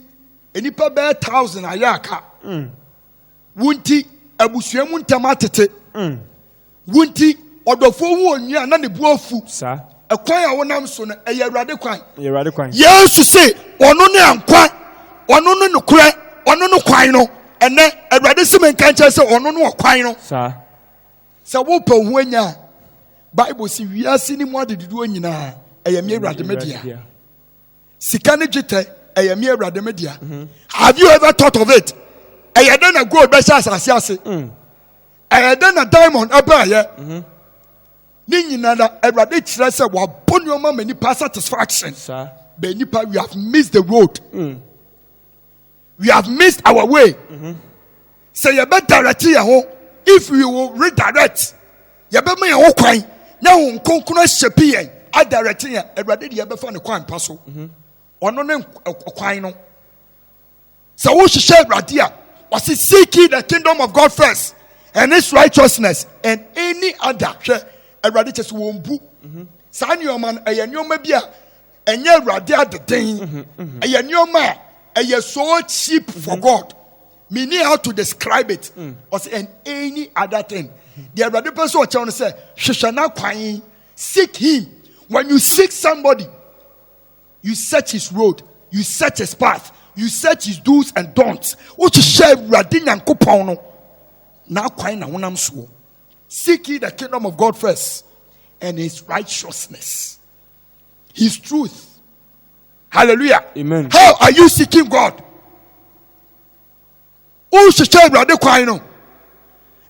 nnipa bɛyɛ thousand ayɛ aka mm. Wo nti, abusua mu ntam atete. Mm. Wo nti, ɔdɔfoɔ hu onua na ne bu afu. Saa. Ɛkwan a wonam so no, ɛyɛ Awurade kwan. Ɛyɛ Awurade kwan. Yesu se, ɔno ne nkwa, ɔno ne nokorɛ, ɔno ne kwan no. Ɛnɛ, Awurade se me nka nkyɛn sɛ ɔno ne ɔkwan no. Saa. Sɛ wopɛ wo ho anya a, Bible se wiase ne mu adedodoɔ nyinaa, ɛyɛ me Awurade me dea. sika ne dwetɛ ɛyɛ me awurade me dea mhm. have you ever thought of it ɛyɛ dɛ na gold bɛhyɛ asase ase mm. ɛyɛ dɛ na diamond ɛbɛɛyɛ mhm. ne nyinara awurade kyerɛ sɛ wabɔ nneɛma ma nipa satisfaction bɛn nipa we have missed the road. Mm. we have missed our way mm-hmm. sɛ yɛbɛ direct yɛn ho if we will redirect yɛbɛ ma yɛn ho kwan na ho nkonkron ahyɛ pi yɛn adirect yɛn awurade deɛ yɛbɛfa ne kwan pa so mm-hmm. ɔno ne kwan no sɛ wohyehyɛ awurade a ɔsi seek ye the kingdom of god first and his righteousness and any other hwɛ awurade kyɛ sɛ wɔn bu mm-hmm. saa nneɛma no ɛyɛ nneɛma bi a ɛnyɛ awurade adeden ɛyɛ nneɛma a ɛyɛ so cheap for mm-hmm. god me need how to describe it mm. ɔsɛ and any other thing the awurade pɛ sɛ ɔkyɛw no sɛ hwehwɛ n'akwan seek him when you seek somebody you search his road you search his path you search his do's and don'ts wohwehwɛ awurade nyankopɔn no n'akwan na honam soɔ seek ye the kingdom of god first and his righteousness His truth. Hallelujah. Amen. How are you seeking God? wohyehyɛ awurade kwan no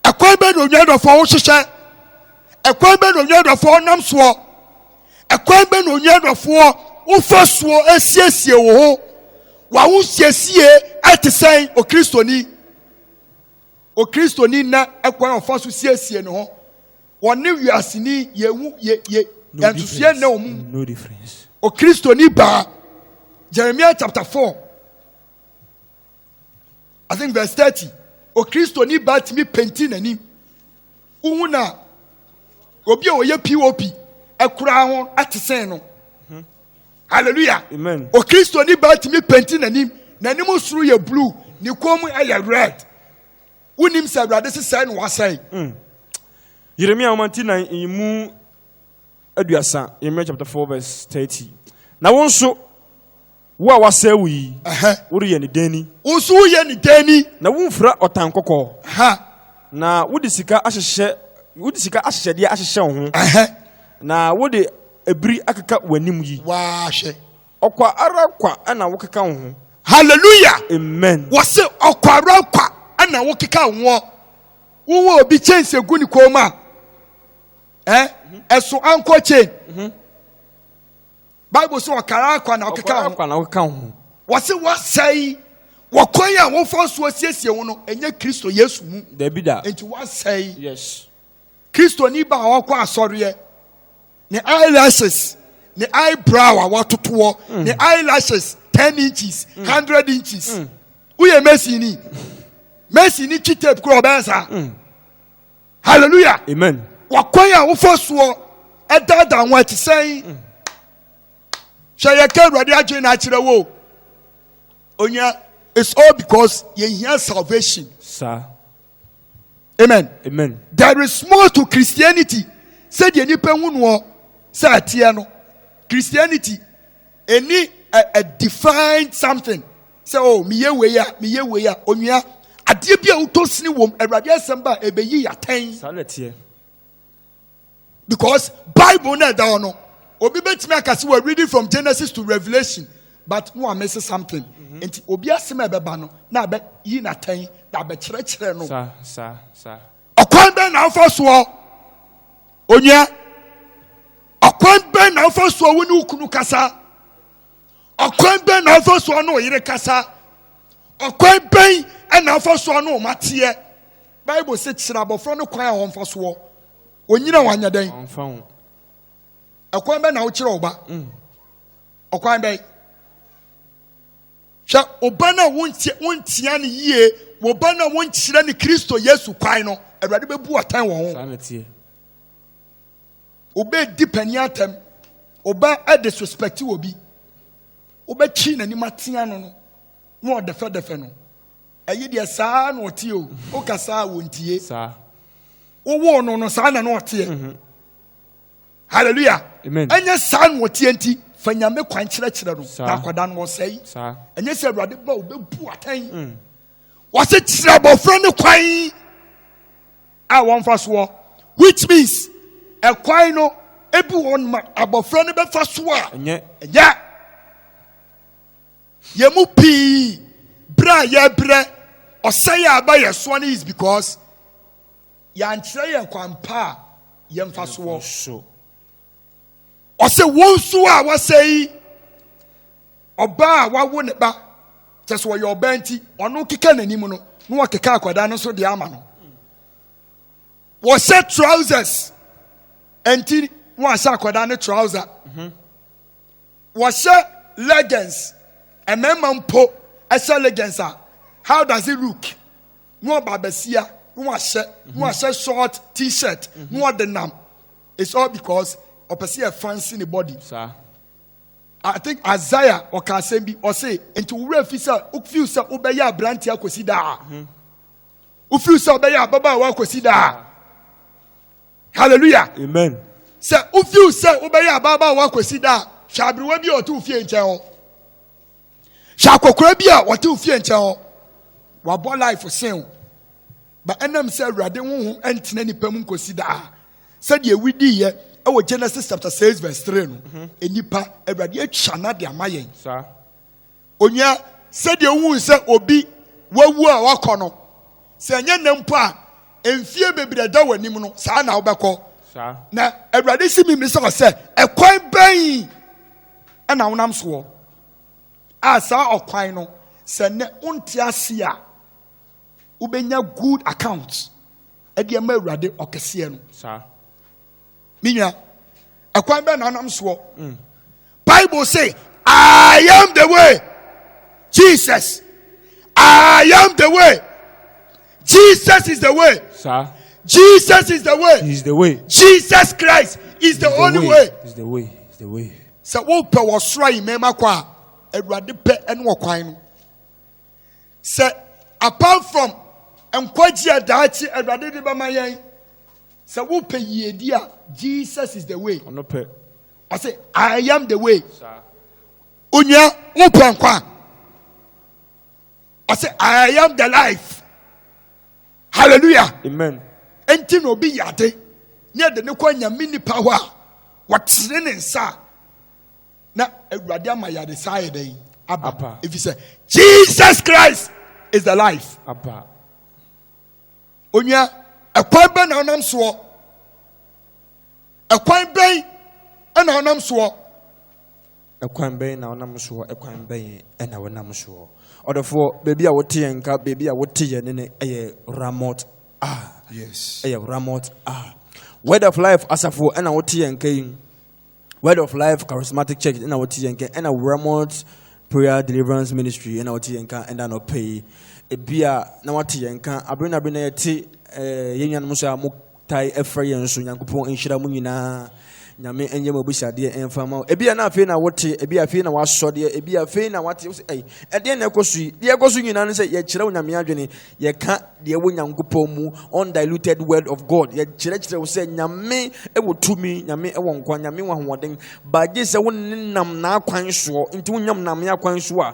ɛkwan bɛ na onua dɔfoɔ wohyehyɛ ɛkwan bɛ na onua dɔfoɔ nam soɔ ɛkwan bɛ na onua dɔfoɔ wofa soɔ asiesie wo ho wawo siesie ɛte sɛn okristoni okristoni na ɛkwan ɔfa so siesie ne ho Wɔne wiaseni yɛ hu yɛ yɛ nsusuɛ nnɛ wɔn mu. Okristoni baa Jeremiah chapter four I think verse thirty. Okristoni baa tumi penti n'anim. Wohu na obi a ɔyɛ pop ɛkura ho ɛte sɛn no. Hmm. Hallelujah. Amen. Okristoni baa tumi penti n'anim. N'anim soro yɛ blue. Ne kɔn mu ɛyɛ red. Wonim sɛ Awurade sesɛe na wasɛe. Mm. Yeremia nwoma ti nan mu aduasa, Yeremia chapter 4 verse 30. Na wo nso, wo a wasɛe wo yi, woreyɛ ne dɛn ni? Wo nso woyɛ ne dɛn ni? Na womfira ɔtan kɔkɔɔ. Na wode sika ahyehyɛ wode sika ahyehyɛdeɛ ahyehyɛ wo ho. Na wode ebiri akeka w'anim yi. Waahwɛ. Ɔkwa ara kwa na wokeka wo ho. Hallelujah. Amen. Wɔse ɔkwa ara kwa na wokeka wo ho. Wowɔ obi chain sɛ gu ne kɔn mu a, eh, ɛso mhm. ankɔ chain. Mhm. Bible sɛ ɔkwa ara kwa na wokeka wo ho. Wɔse wɔasɛe wɔkwan a wofa so asiesie wo no ɛnyɛ Kristo Yesu mu. Dabi da. Nti wɔasɛe. Yes. kristoni ba a ɔkɔ asɔreɛ ne eyelashes ne eyebrow a watotoɔ mm. ne eyelashes ten inches mm. hundred inches mm. woyɛ mesi ni mesi ni kyi tape kura ɔbɛn saa hallelujah amen wakwan a wofa soɔ ɛdaadaa ho ɛte sɛn hwɛ yɛ ka awurade adwene na akyerɛ wo onya it's all because yɛhia salvation. Sir. amen amen there is more to christianity sɛdeɛ nipa hu noɔ sɛ ɛteɛ no christianity ɛni a, a defined something sɛ o oh, meyɛ wei a meyɛ wei a onua adeɛ bi a wotɔ sini wɔm awurade asɛm ba a ɛbɛyi yɛatɛn saa na ɛteɛ because bible na ɛda hɔ no obi bɛtumi aka sɛ wɔ reading from genesis to revelation but no amese something mm-hmm. nti obi asɛm a ɛbɛba no na abɛyi n'atɛn na abɛkyerɛkyerɛ no ɔkwan bɛn na afa soɔ onua ɔkwan bɛn na afa soɔ wo ne wo kunu kasa ɔkwan bɛn na afa so ɔne ɔyere kasa ɔkwan bɛn na afa so ɔne ɔma teɛ bible sɛ kyerɛ abɔfra no kwan a wɔmfa soɔ ɔnyina wanyɛ dɛn ɛkwan bɛn na wokyerɛ ɔba mm. ɔkwan bɛn hwɛ ɔba no a wontia no yie wɔba no a wonkyerɛ no kristo yesu kwan no awurade bɛbu ɔtan wɔ ho Obe di panin atɛm. Oba ɛde suspect wɔ bi. Obe kyi na nim atea no no. Na ɔdɛfɛ dɛfɛ no. Ɛyi deɛ saa na ɔteɛ o. Oka saa wɔ ntie. Saa. Wowoo no no saa na na ɔteɛ. Mhm. Hallelujah. Amen. Ɛnyɛ saa na ɔteɛ nti fa nyame kwan kyerɛkyerɛ no. Na akwadaa no ɔsɛe. Saa. Ɛnyɛ sɛ awurade ba obebu atɛn. Mm. Wɔse kyerɛ abɔfra ne kwan. a wɔmfa soɔ which means ɛkwan no ebi wɔn ma abɔfra no bɛfa so a ɛnyɛ yɛn mu pii berɛ a yɛbrɛ ɔsɛe a aba yɛ soɔ no is because yɛankyerɛ yɛn kwan pa a yɛmfa soɔ ɔsɛ wɔn nso a wɔsɛe ɔbaa a wawo ne ba kyɛ sɛ ɔyɛ ɔbaa nti ɔno keka n'anim no na wɔkeka akwadaa no nso deɛ ama no wɔhyɛ trousers nti na wɔahyɛ akwadaa no trouser mhm. wɔhyɛ legends mmarima mpo ɛhyɛ legends a how does it look na ɔba abasia na wɔahyɛ na wɔahyɛ short t-shirt na wɔde nam. It's all because ɔpɛ sɛ yɛ fancy ne body. Sa. I think Isaiah ɔka asɛm bi ɔse nti wura fi sɛ wofiw sɛ wobɛyɛ aberante akɔsi daa. Hmm. Wofiw sɛ wobɛyɛ ababaawa akɔsi daa. Hallelujah. Amen. Sɛ wofiw sɛ wobɛyɛ ababaawa akɔsi daa hwɛ aberewa bi a ɔte wo fie nkyɛn hɔ. Hwɛ akɔkora bi a ɔte ofie nkyɛn hɔ. Wabɔ life sen wo. Ba ɛnam sɛ Awurade honhom ɛntena nipa mu nkosi daa. Sɛdeɛ ewi diiɛ ɛwɔ Genesis chapter six verse three no. Mhm. Nipa Awurade atwa na de ama yɛn. Saa. Onua sɛdeɛ ohun sɛ obi wawu a wakɔ no. Sɛ ɛnyɛ nna mpo a mfie bebree ɛda wɔ anim no saa na wobɛkɔ. Saa. Na Awurade si mi mi sɛ ɔsɛ ɛkwan bɛn ɛna wonam soɔ. a saa ɔkwan no sɛ nnɛ wonte ase a wobɛnya good account ɛde ama awurade ɔkɛseɛ no saa me nua ɛkwan bɛn na anam soɔ mm. bible say i am the way jesus i am the way Jesus is the way. Sir. Jesus is the way. He's the way. Jesus Christ is the, the only way. way. He's the way. He's the way. Sɛ wopɛ wɔ soro a yimɛma kɔ a, awurade pɛ ɛne wɔ kwan no. Sɛ apart from nkwagye a daakye awurade de bɛma yɛn, sɛ wopɛ yiedi a, Jesus is the way. Ɔno pɛ. Ɔsɛ, I am the way. Sir. Onua, wopɛ nkwa. ɔsɛ i am the life hallelujah amen ɛnti na obi yade ne ɛde ne kɔ nyame nipa hɔ a wɔtene ne nsa na awurade ama yade saa yɛ dɛn aba ɛfiri sɛ jesus christ is the life aba onua ɛkwan bɛn na ɔnam soɔ ɛkwan bɛn na ɔnam soɔ Ɛkwan bɛn na wonam soɔ? Ɛkwan bɛn na wonam soɔ? Ɔdɔfoɔ, baabi a wote yɛn nka, baabi a wote yɛn ne ne ɛyɛ Ramot a. Yes. Ɛyɛ Ramot a. Word of Life asafo ɛna wote yɛn nka yi. Word of Life Charismatic Church ɛna wote yɛn nka ɛna Ramot Prayer Deliverance Ministry ɛna wote yɛn nka ɛna nɔpɛ yi. Ebi a na wate yɛn nka abere na abere na yɛte ɛɛ yɛn nuanom so a mo tae frɛ yɛn nso nyankopɔn nhyira mu nyinaa nyame ɛnyɛ mu abusadeɛ ɛmfa ma ebi a na afei na wote ebi a afei na wasɔ deɛ ebi a afei na wate ɛyi ɛdeɛ na ɛkɔ so yi deɛ ɛkɔ so nyinaa no sɛ yɛkyerɛ wo nyame adwene yɛka deɛ ɛwɔ nyankopɔn mu undiluted word of god yɛkyerɛkyerɛ wo sɛ nyame ɛwɔ tumi nyame ɛwɔ nkwa nyame wɔ ahoɔden baagye sɛ wo ne nam n'akwan soɔ nti wonyam nam akwan so a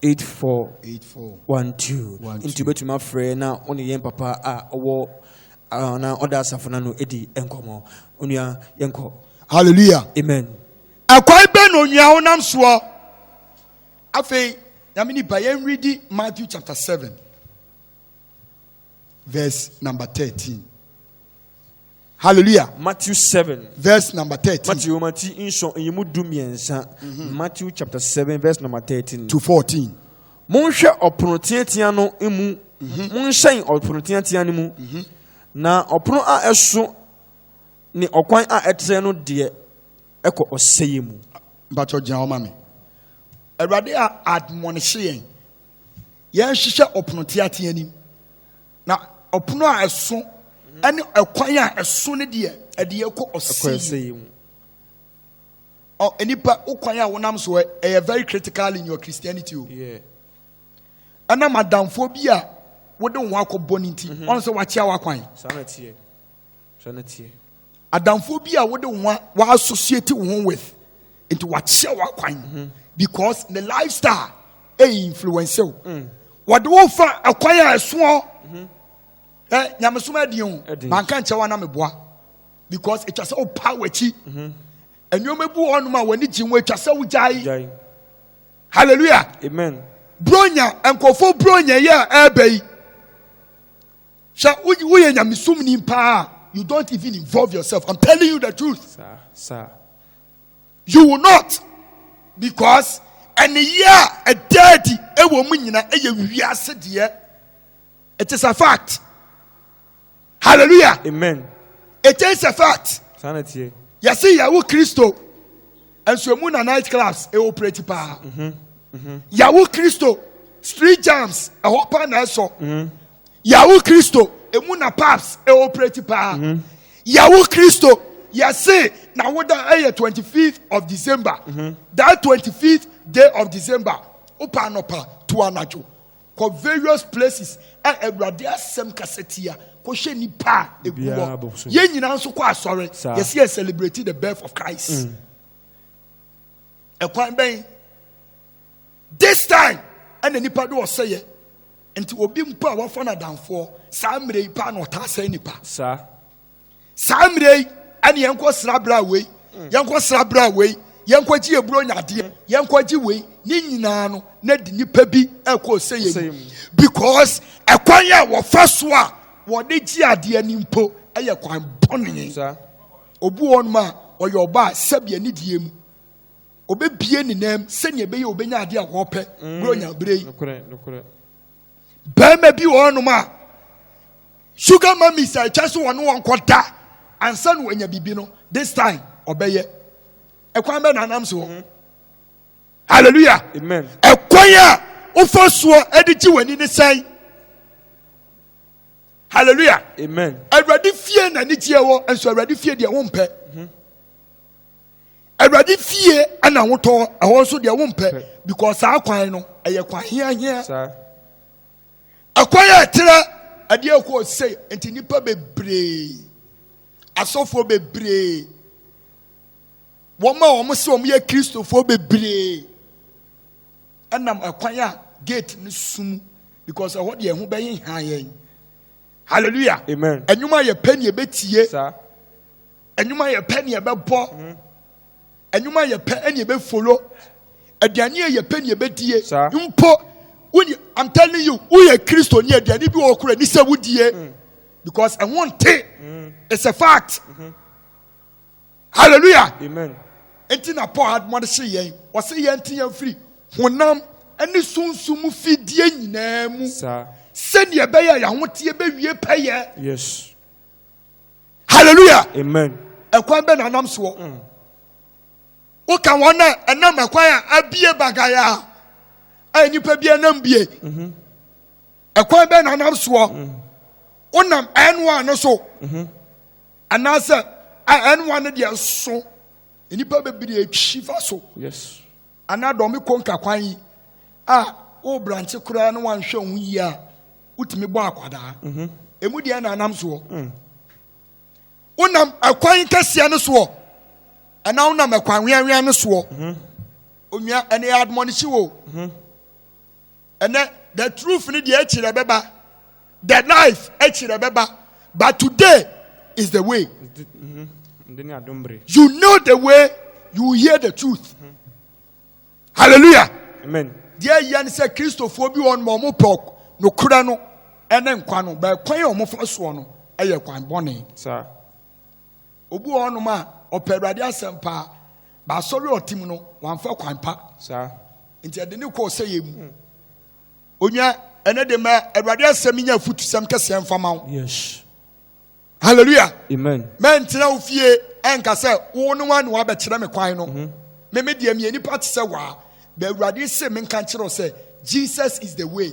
8412 nti wobɛtumi afrɛ na wo ne yɛn papa a ɔwɔ na ɔda asafo no ano di nkɔmmɔ onua yɛnkɔ hallelujah amen ɛkwan bɛ na onua wonam soɔ afei nyame nipa yɛnredi matthew chapter 7 verse number 13 Hallelujah. Matthew 7. Verse number 13. Matthew mhm. Matthew chapter 7 verse number 13 to 14. Monhwɛ ɔpono teatea no mu. Mhm. Monhyɛn ɔpono teatea no mu. Mhm. Na ɔpono a ɛso ne ɔkwan a ɛtrɛ no deɛ ɛkɔ ɔsɛeɛ mu. Mpatsɔ gyina ɔma mi. Awurade a admonihyɛ yɛn. Yɛn hyehyɛ ɔpono teatea nim. Na ɔpono a ɛso ne ɛkwan a ɛso no deɛ, ɛde ɛkɔ ɔsɛeɛ mu. Ɔ nipa wo kwan a wonam so ɛyɛ very critical in your Christianity o. Ɛnam adamfoɔ bi a wode wo ho akɔbɔ no nti, ɔn sɛ wakyea w'akwan. adamfoɔ bi a wode wo wa associate wo ho with nti wakyɛ wakwan mhm. because ne lifestyle ɛyɛ influence o mm. wɔde wo fa ɛkwan a ɛsoɔ mhm. ɛ nyamesom ɛdeɛ o manka nkyɛ wa na meboa because ɛtwa sɛ wopa w'akyi mhm. nneɛma bi wɔ hɔnom a wɔne gye ho ɛtwa sɛ wogyae hallelujah amen bronya nkurɔfoɔ bronya yi a ɛreba yi Sɛ woyɛ nyamesom ni paa, you don't even involve yourself. I'm telling you the truth. Sir, sir. You will not, because ɛne yɛ a ɛda adi ɛwɔ mu nyina ɛyɛ wiase deɛ. It is a fact. Hallelujah. Amen. It is a fact. Sanity. Yɛsi yɛwo Kristo. nso emu na night clubs e operate paa mhm, mhm. yawo kristo street jams ɛhɔ paa na ɛsɔ mhm. yawo kristo emu na pubs e operate paa yawo kristo yɛse na woda ɛyɛ twenty fifth of december that twenty fifth day of december wopa anɔpa to anadwo Kɔ various places a Awurade asɛm kasa tia, kɔhwɛ nnipa a ɛgu hɔ. Yɛn nyinaa nso kɔ asɔre, yɛsɛ yɛ celebrate the birth of Christ. Mm. Ɛkwan bɛn? This time, ɛna nipa de ɔsɛyɛ. Nti obi mpo a wafa no adamfoɔ, saa mmerɛ yi paa na ɔtaa sɛe nipa. Saa. saa mmerɛ yi ɛne yɛnkɔ sra bra wei mm. yɛnkɔ sra bra wei yɛnkɔ gye eburo nyadeɛ mm. yɛnkɔ gye wei ne nyinaa no na de nipa bi ɛkɔ ɔsɛ yɛ mu because ɛkwan a wɔfa so a wɔde gye adeɛ ne mpo ɛyɛ kwan bɔne obi wɔn mu a ɔyɛ ɔbaa sɛbi ɛne die mu obebie ne nan sɛnea ɛbɛyɛ obenya adeɛ a wɔpɛ mm. buro nya bere yi. bɛrima bi wɔ hɔnom a sugar mummies a ɛkyɛ so wɔne wɔn kɔ da ansa na wɔanya biribi no this time ɔbɛyɛ ɛkwan bɛ na anam so hɔ hallelujah ɛkwan a wofa soɔ ɛde gye w'ani ne sɛn hallelujah amen awurade fie na anigyeɛ wɔ nso awurade fie deɛ wompɛ mm-hmm. awurade fie ɛna wotɔ ɛhɔ nso deɛ wompɛ because saa kwan no ɛyɛ kwan hiahia ɛkwan a ɛterɛ ɛdeɛ ɛkɔɔ sei nti nnipa bebree asɔfoɔ bebree wɔn a wɔn sɛ wɔn yɛ kristofoɔ bebree ɛnam ɛkwan a gate no sum because ɛhɔ deɛ ɛho bɛyɛ hia yɛn. Hallelujah. Amen. Enyuma yɛ pɛ ni ebetie. Sa. Enyuma yɛ pɛ ni ɛbɛbɔ. Enyuma mm-hmm. yɛ pɛ ɛni ebefolo. Aduane yɛ pɛ ni ebedie. Sa. Mpo wuni I'm telling you woyɛ Kristo ni aduane bi wɔ kura ni sɛ wudie mm. because ɛho nte mm. it's a fact. Mm-hmm. halleluya amen enti na paul admɔde hye yɛn ɔse yɛn te yɛn firi honam ne sunsum fidie nyinaa mu sɛdeɛ ɛbɛyɛ yɛahoteɛ bɛwie pɛyɛ yes halleluya amen ɛkwan bɛ na anam soɔ mm. woka wɔn a ɛnam ɛkwan a abie bagaya a nipa bi anam bie mm-hmm. ɛkwan bɛ na anam soɔ mm. wonam ɛnoa no so mm-hmm. Anaasɛ a ɛnoa no deɛ so nnipa bebree atwi fa so anaa dɔm kɔ nkakwan yi a wo branche koraa na wanhwɛ ho yie a wotumi bɔ akwadaa mhm. ɛmu deɛ na anam soɔ mm. wonam ɛkwan kɛseɛ no soɔ ɛna wonam ɛkwan weawea no soɔ mhm. onua ɛne yɛ admɔnehye wo mhm. Ɛnɛ the truth ni deɛ akyire ɛbɛba the life akyire ɛbɛba but today is the way. Mm-hmm. You know the way you hear the truth. Mm-hmm. Hallelujah. Amen. Deɛ yɛ ni sɛ kristofoɔ bi wɔn ma wɔn pɛ nokura no ɛne nkwa no bɛɛ kwan yɛ wɔn fa soɔ no ɛyɛ kwan bɔnne. Saa. Obi wɔ hɔnom a ɔpɛ Awurade asɛm paa, ba asɔre a ɔte mu no wamfa kwan pa. Saa. Nti ɛde ne kɔ ɔsɛeɛ mu. Hmm. Onya ɛnɛ de ma Awurade asɛm nya afutusɛm kɛseɛ mfa ma wo. Yes. Hallelujah. Amen. Mɛntena wo fie ɛnka sɛ wo ne wa ne wabɛkyerɛ me kwan no. Mm-hmm. Me me deɛ meyɛ nipa te sɛ waa. Bɛ Awurade se menka nkyerɛ sɛ Jesus is the way.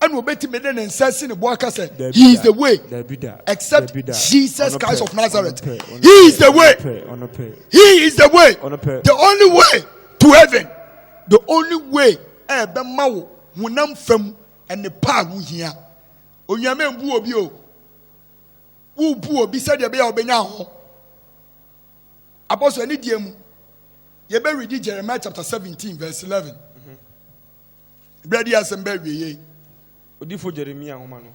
ɛna obetumi de ne nsa si ne bo aka sɛ he is the way except jesus christ of nazareth he is the way he is the way the only way to heaven the only way ɛbɛma wo honam fam ɛne paa ho hia onyame mbu obi o wobu obi sɛdeɛ ɛbɛyɛ a ɔbɛnya ho abɔso ɛne deɛ mu yɛbɛredi jeremiah chapter seventeen verse eleven. Ebere di asɛm bɛ awie yei. Odifo Jeremia nwoma no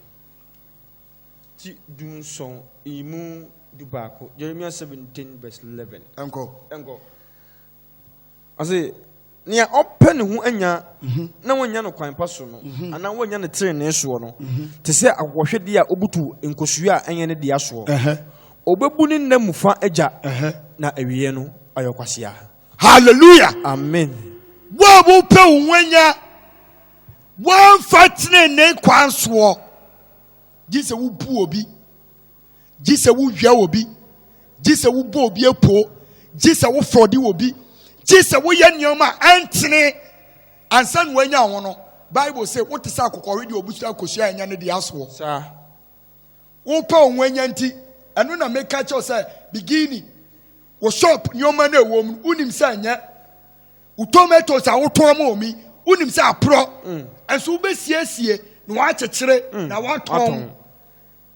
ti du nson yi mu du baako, Jeremia 17 verse 11. Ɛnkɔ. Ɛnkɔ. Ɔse, nea ɔpɛ ne ho anya mhm. na wanya no kwan pa so no, mhm. anaa wanya no trenee soɔ no, mhm. te sɛ akɔhwɛdeɛ a ɔbutu nkosua a ɛnyɛ ne dea soɔ. Ɔbɛbu ne nna mu fa agya na awieɛ no ayɛ kwasia. Hallelujah. Amen. Wo a wopɛ wo ho anya, wɔmfa tenenee kwan soɔ. Gye sɛ wobu obi, gye sɛ wowia obi, gye sɛ wobɔ obi apuo, gye sɛ wofɔde obi, gye sɛ woyɛ nneɛma a ɛntene ansa na wanya ho no. Bible sɛ wote sɛ akokɔhwe deɛ ɔbusua akosua anya ne deɛ asoɔ. Saa. Wopɛ wo ho anya nti, ɛno na meka kyerɛ wo sɛ bikini, wo shop nneɛma no ɛwɔ mu, wonim sɛ ɛnyɛ wo tomatoes a wotɔn ma omi, wonim sɛ aporɔ, mm. ɛnso wobɛsiesie na wɔakyekyere mm. na wɔatɔn.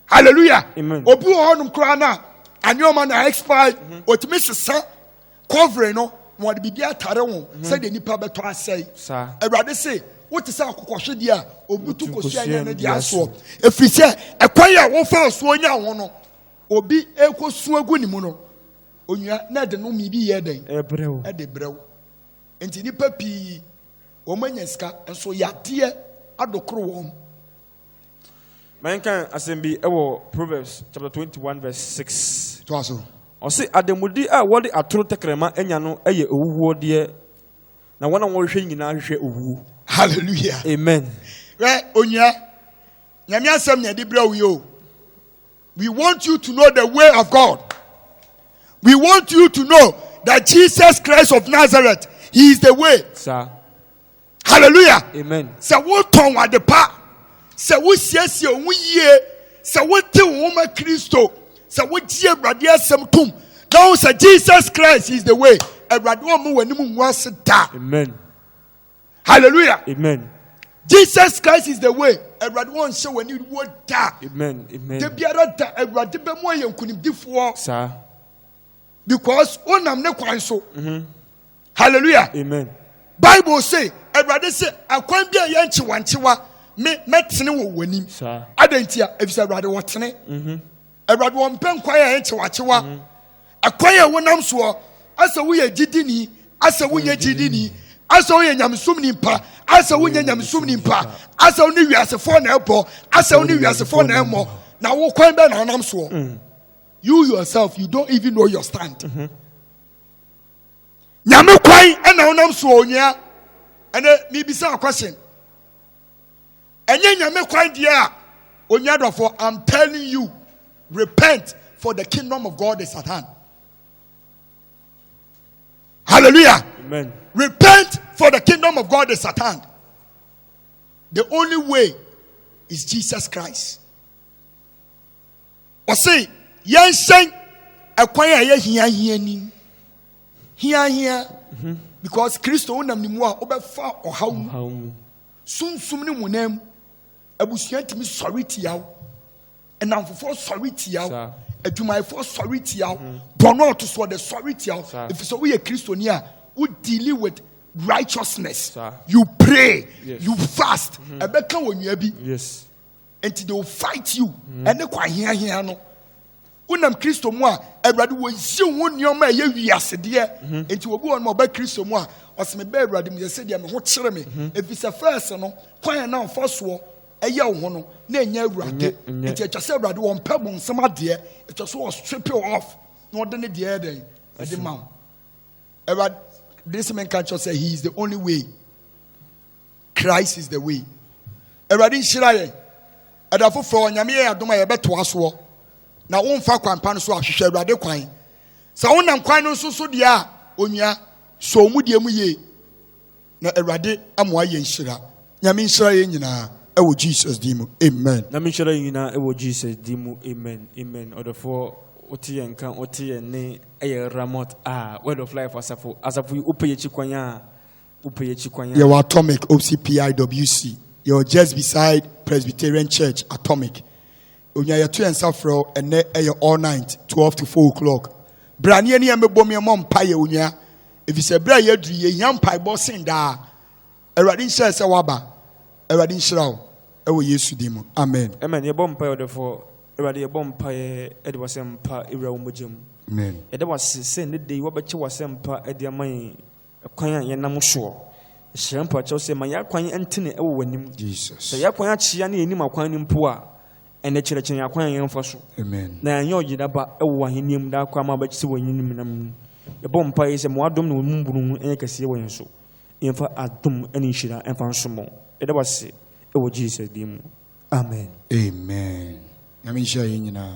Hallelujah. Obi wɔ hɔnom koraa no a, anneɛma na expire, ɔtumi mm-hmm. sesa Kɔvere no, na wɔde biribi atare ho mhm. sɛdeɛ nnipa bɛtɔ asɛe. Awurade se, wote sɛ akokɔhwedeɛ a ɔbutu kosua nya no de asoɔ. Ɛfiri sɛ, ɛkwan a wɔfa soɔ nya ho no, obi ɛkɔsu agu ne mu no, onua na ɛde no mmibi yɛ dɛn? Ɛde brɛw. Nti nnipa pii wɔn anya sika nso yadeɛ adokoro wɔn Mɛnkan asɛm bi wɔ Proverbs chapter twenty one verse six. To aso. Ɔsi ademude a wɔde atoro tɛkrɛma anya no yɛ owuwuo deɛ, na wɔn a wɔhwehwɛ nyinaa hwehwɛ owuo. Hallelujah. Amen. Wɛ onua, nyame asɛm na ɛde brɛ wo yɛ o. We want you to know the way of God. We want you to know that Jesus Christ of Nazareth, He is the way. Sir. hallelujah amen sɛ wotɔn wade pa sɛ wosiesie wo ho yie sɛ wote wo ho ma kristo sɛ wogye awurade asɛm tom na wo sɛ jesus christ is the way awurade wɔn mu w'anim ngu ase da amen hallelujah amen jesus christ is the way awurade wɔn nhyɛ wɔn ani wo da amen amen da biara da awurade bɛ mu ayɛ nkunimdifoɔ saa because wonam ne kwan so. Mm -hmm. hallelujah amen bible say awurade sɛ akwan bi a yɛ nkyewankyewa me mɛtene wɔ wɔn anim adɛn nti a efisɛ awurade wɔtene mhm. awurade wɔn mpɛ nkwan a yɛ nkyewankyewa mhm. akwan a wɔnam soɔ asɛ woyɛ gyidini asɛ wonyɛ gyidini asɛ woyɛ nyamesom nimpa asɛ wonyɛ nyamesom nimpa asɛ wo ne wiasefoɔ na ɛbɔ asɛ wo ne wiasefoɔ na ɛmmɔ na wo kwan bɛ na anam soɔ mm. you yourself you don't even know your stand. Mm -hmm. nyame kwan ɛna wonam so onua ɛnɛ mebisa question ɛnyɛ nyame kwan deɛ a onua dɔfo i'm telling you repent for the kingdom of god is at hand hallelujah Amen. repent for the kingdom of god is at hand the only way is jesus christ Ɔse yɛnhyɛn ɛkwan a ɛyɛ hiahia nim. Hiahia. Mhm. Because Kristo wonam ne mu a wobɛfa ɔhaw mu. Sunsum ne honam mu. Abusua tumi sɔre tia wo. Nnamfofoɔ sɔre tia wo. Adwumayɛfoɔ sɔre tia wo. Mhm. Bɔnɔ ɔto so ɔde sɔre tia wo. Efisɛ woyɛ Kristoni a wo dealing with righteousness. You pray. You fast. Mhm. Ɛbɛka wɔ nua bi. Yes. Enti they will fight you mm. ɛne kwan hiahia no wonam kristo mu a awurade wɔnsi ho nneɛma a ɛyɛ wiasedeɛ mhm. enti wɔbi wɔn ma ɔba kristo mu a ɔsɛ me bɛ awurade mu yɛ sɛ deɛ me ho kyerɛ me mhm. ɛfiri sɛ fɛs no kwan a na mfa soɔ ɛyɛ wo ho no na ɛnyɛ awurade nti atwa sɛ awurade wɔmpɛ mo nsɛm adeɛ atwa so ɔstrip off na ɔde ne deɛ ɛdɛn ɛde ma wo awurade de sɛ menka kyerɛ sɛ he is the only way Christ is the way. Awurade nhyira yɛn. Ɛda foforɔ Onyame yɛ adom a yɛbɛtoa soɔ na womfa kwan pa no so ahwehwɛ Awurade kwan. Sɛ wonam kwan no nso so deɛ a onua sɔ mu deɛ mu yie na Awurade amoa yɛn nhyira. Nyame nhyira yɛn nyinaa ɛwɔ Jesus din mu. Amen. Nyame nhyira yɛn nyinaa ɛwɔ Jesus din mu. Amen. Amen. Ɔdɔfoɔ wote yɛn nka wote yɛn ne ɛyɛ Ramot a Word of Life asafo asafo yi wopɛ yɛkyi kwan a yɛwɔ atomic ocpiwc yɛwɔ just beside presbyterian church atomic onya yɛto yɛn nsa frɛ ɛnɛ ɛyɛ all night twelve to four o'clock berɛ a ne yɛne yɛn bɛbɔ mu yɛmmɔ mpa yɛ onua ɛfiri sɛ berɛ a yɛaduru yɛhia mpaebɔ sen daa awurade nhyɛ sɛ woaba awurade nhyira wo ɛwɔ yesu din mu amen amen yɛbɔ mpa yɛ ɔdɔfoɔ awurade yɛbɔ mpa yɛ ɛde wasɛ mpa ɛwura wo mogya mu yɛda wase sɛ ne de yi wabɛkyɛ wasɛ mpa ɛde ama yɛn Kwan a yɛnam soɔ. Hyira mpo akyerɛ sɛ ma yɛn akwan ntene wɔ w'anim. Sɛ yɛn akwan akyea ne yɛnnim akwan no mpo a, ɛnɛ kyerɛkyerɛ yɛn akwan a yɛmfa so. Na yɛnyɛ ɔyera ba wɔ w'ahennie mu daa koraa ma wobɛte sɛ w'anim no menam mu. Yɛbɔ mpaeɛ sɛ ma w'adom ne wo mmɔborɔhunu nyɛ kɛseɛ wɔ yɛn so. Yɛmfa adom ne nhyira mfa nsom wo. Yɛda wo ase wɔ Jesus din mu. Amen. Amen. Nyame nhyira yɛn nyinaa.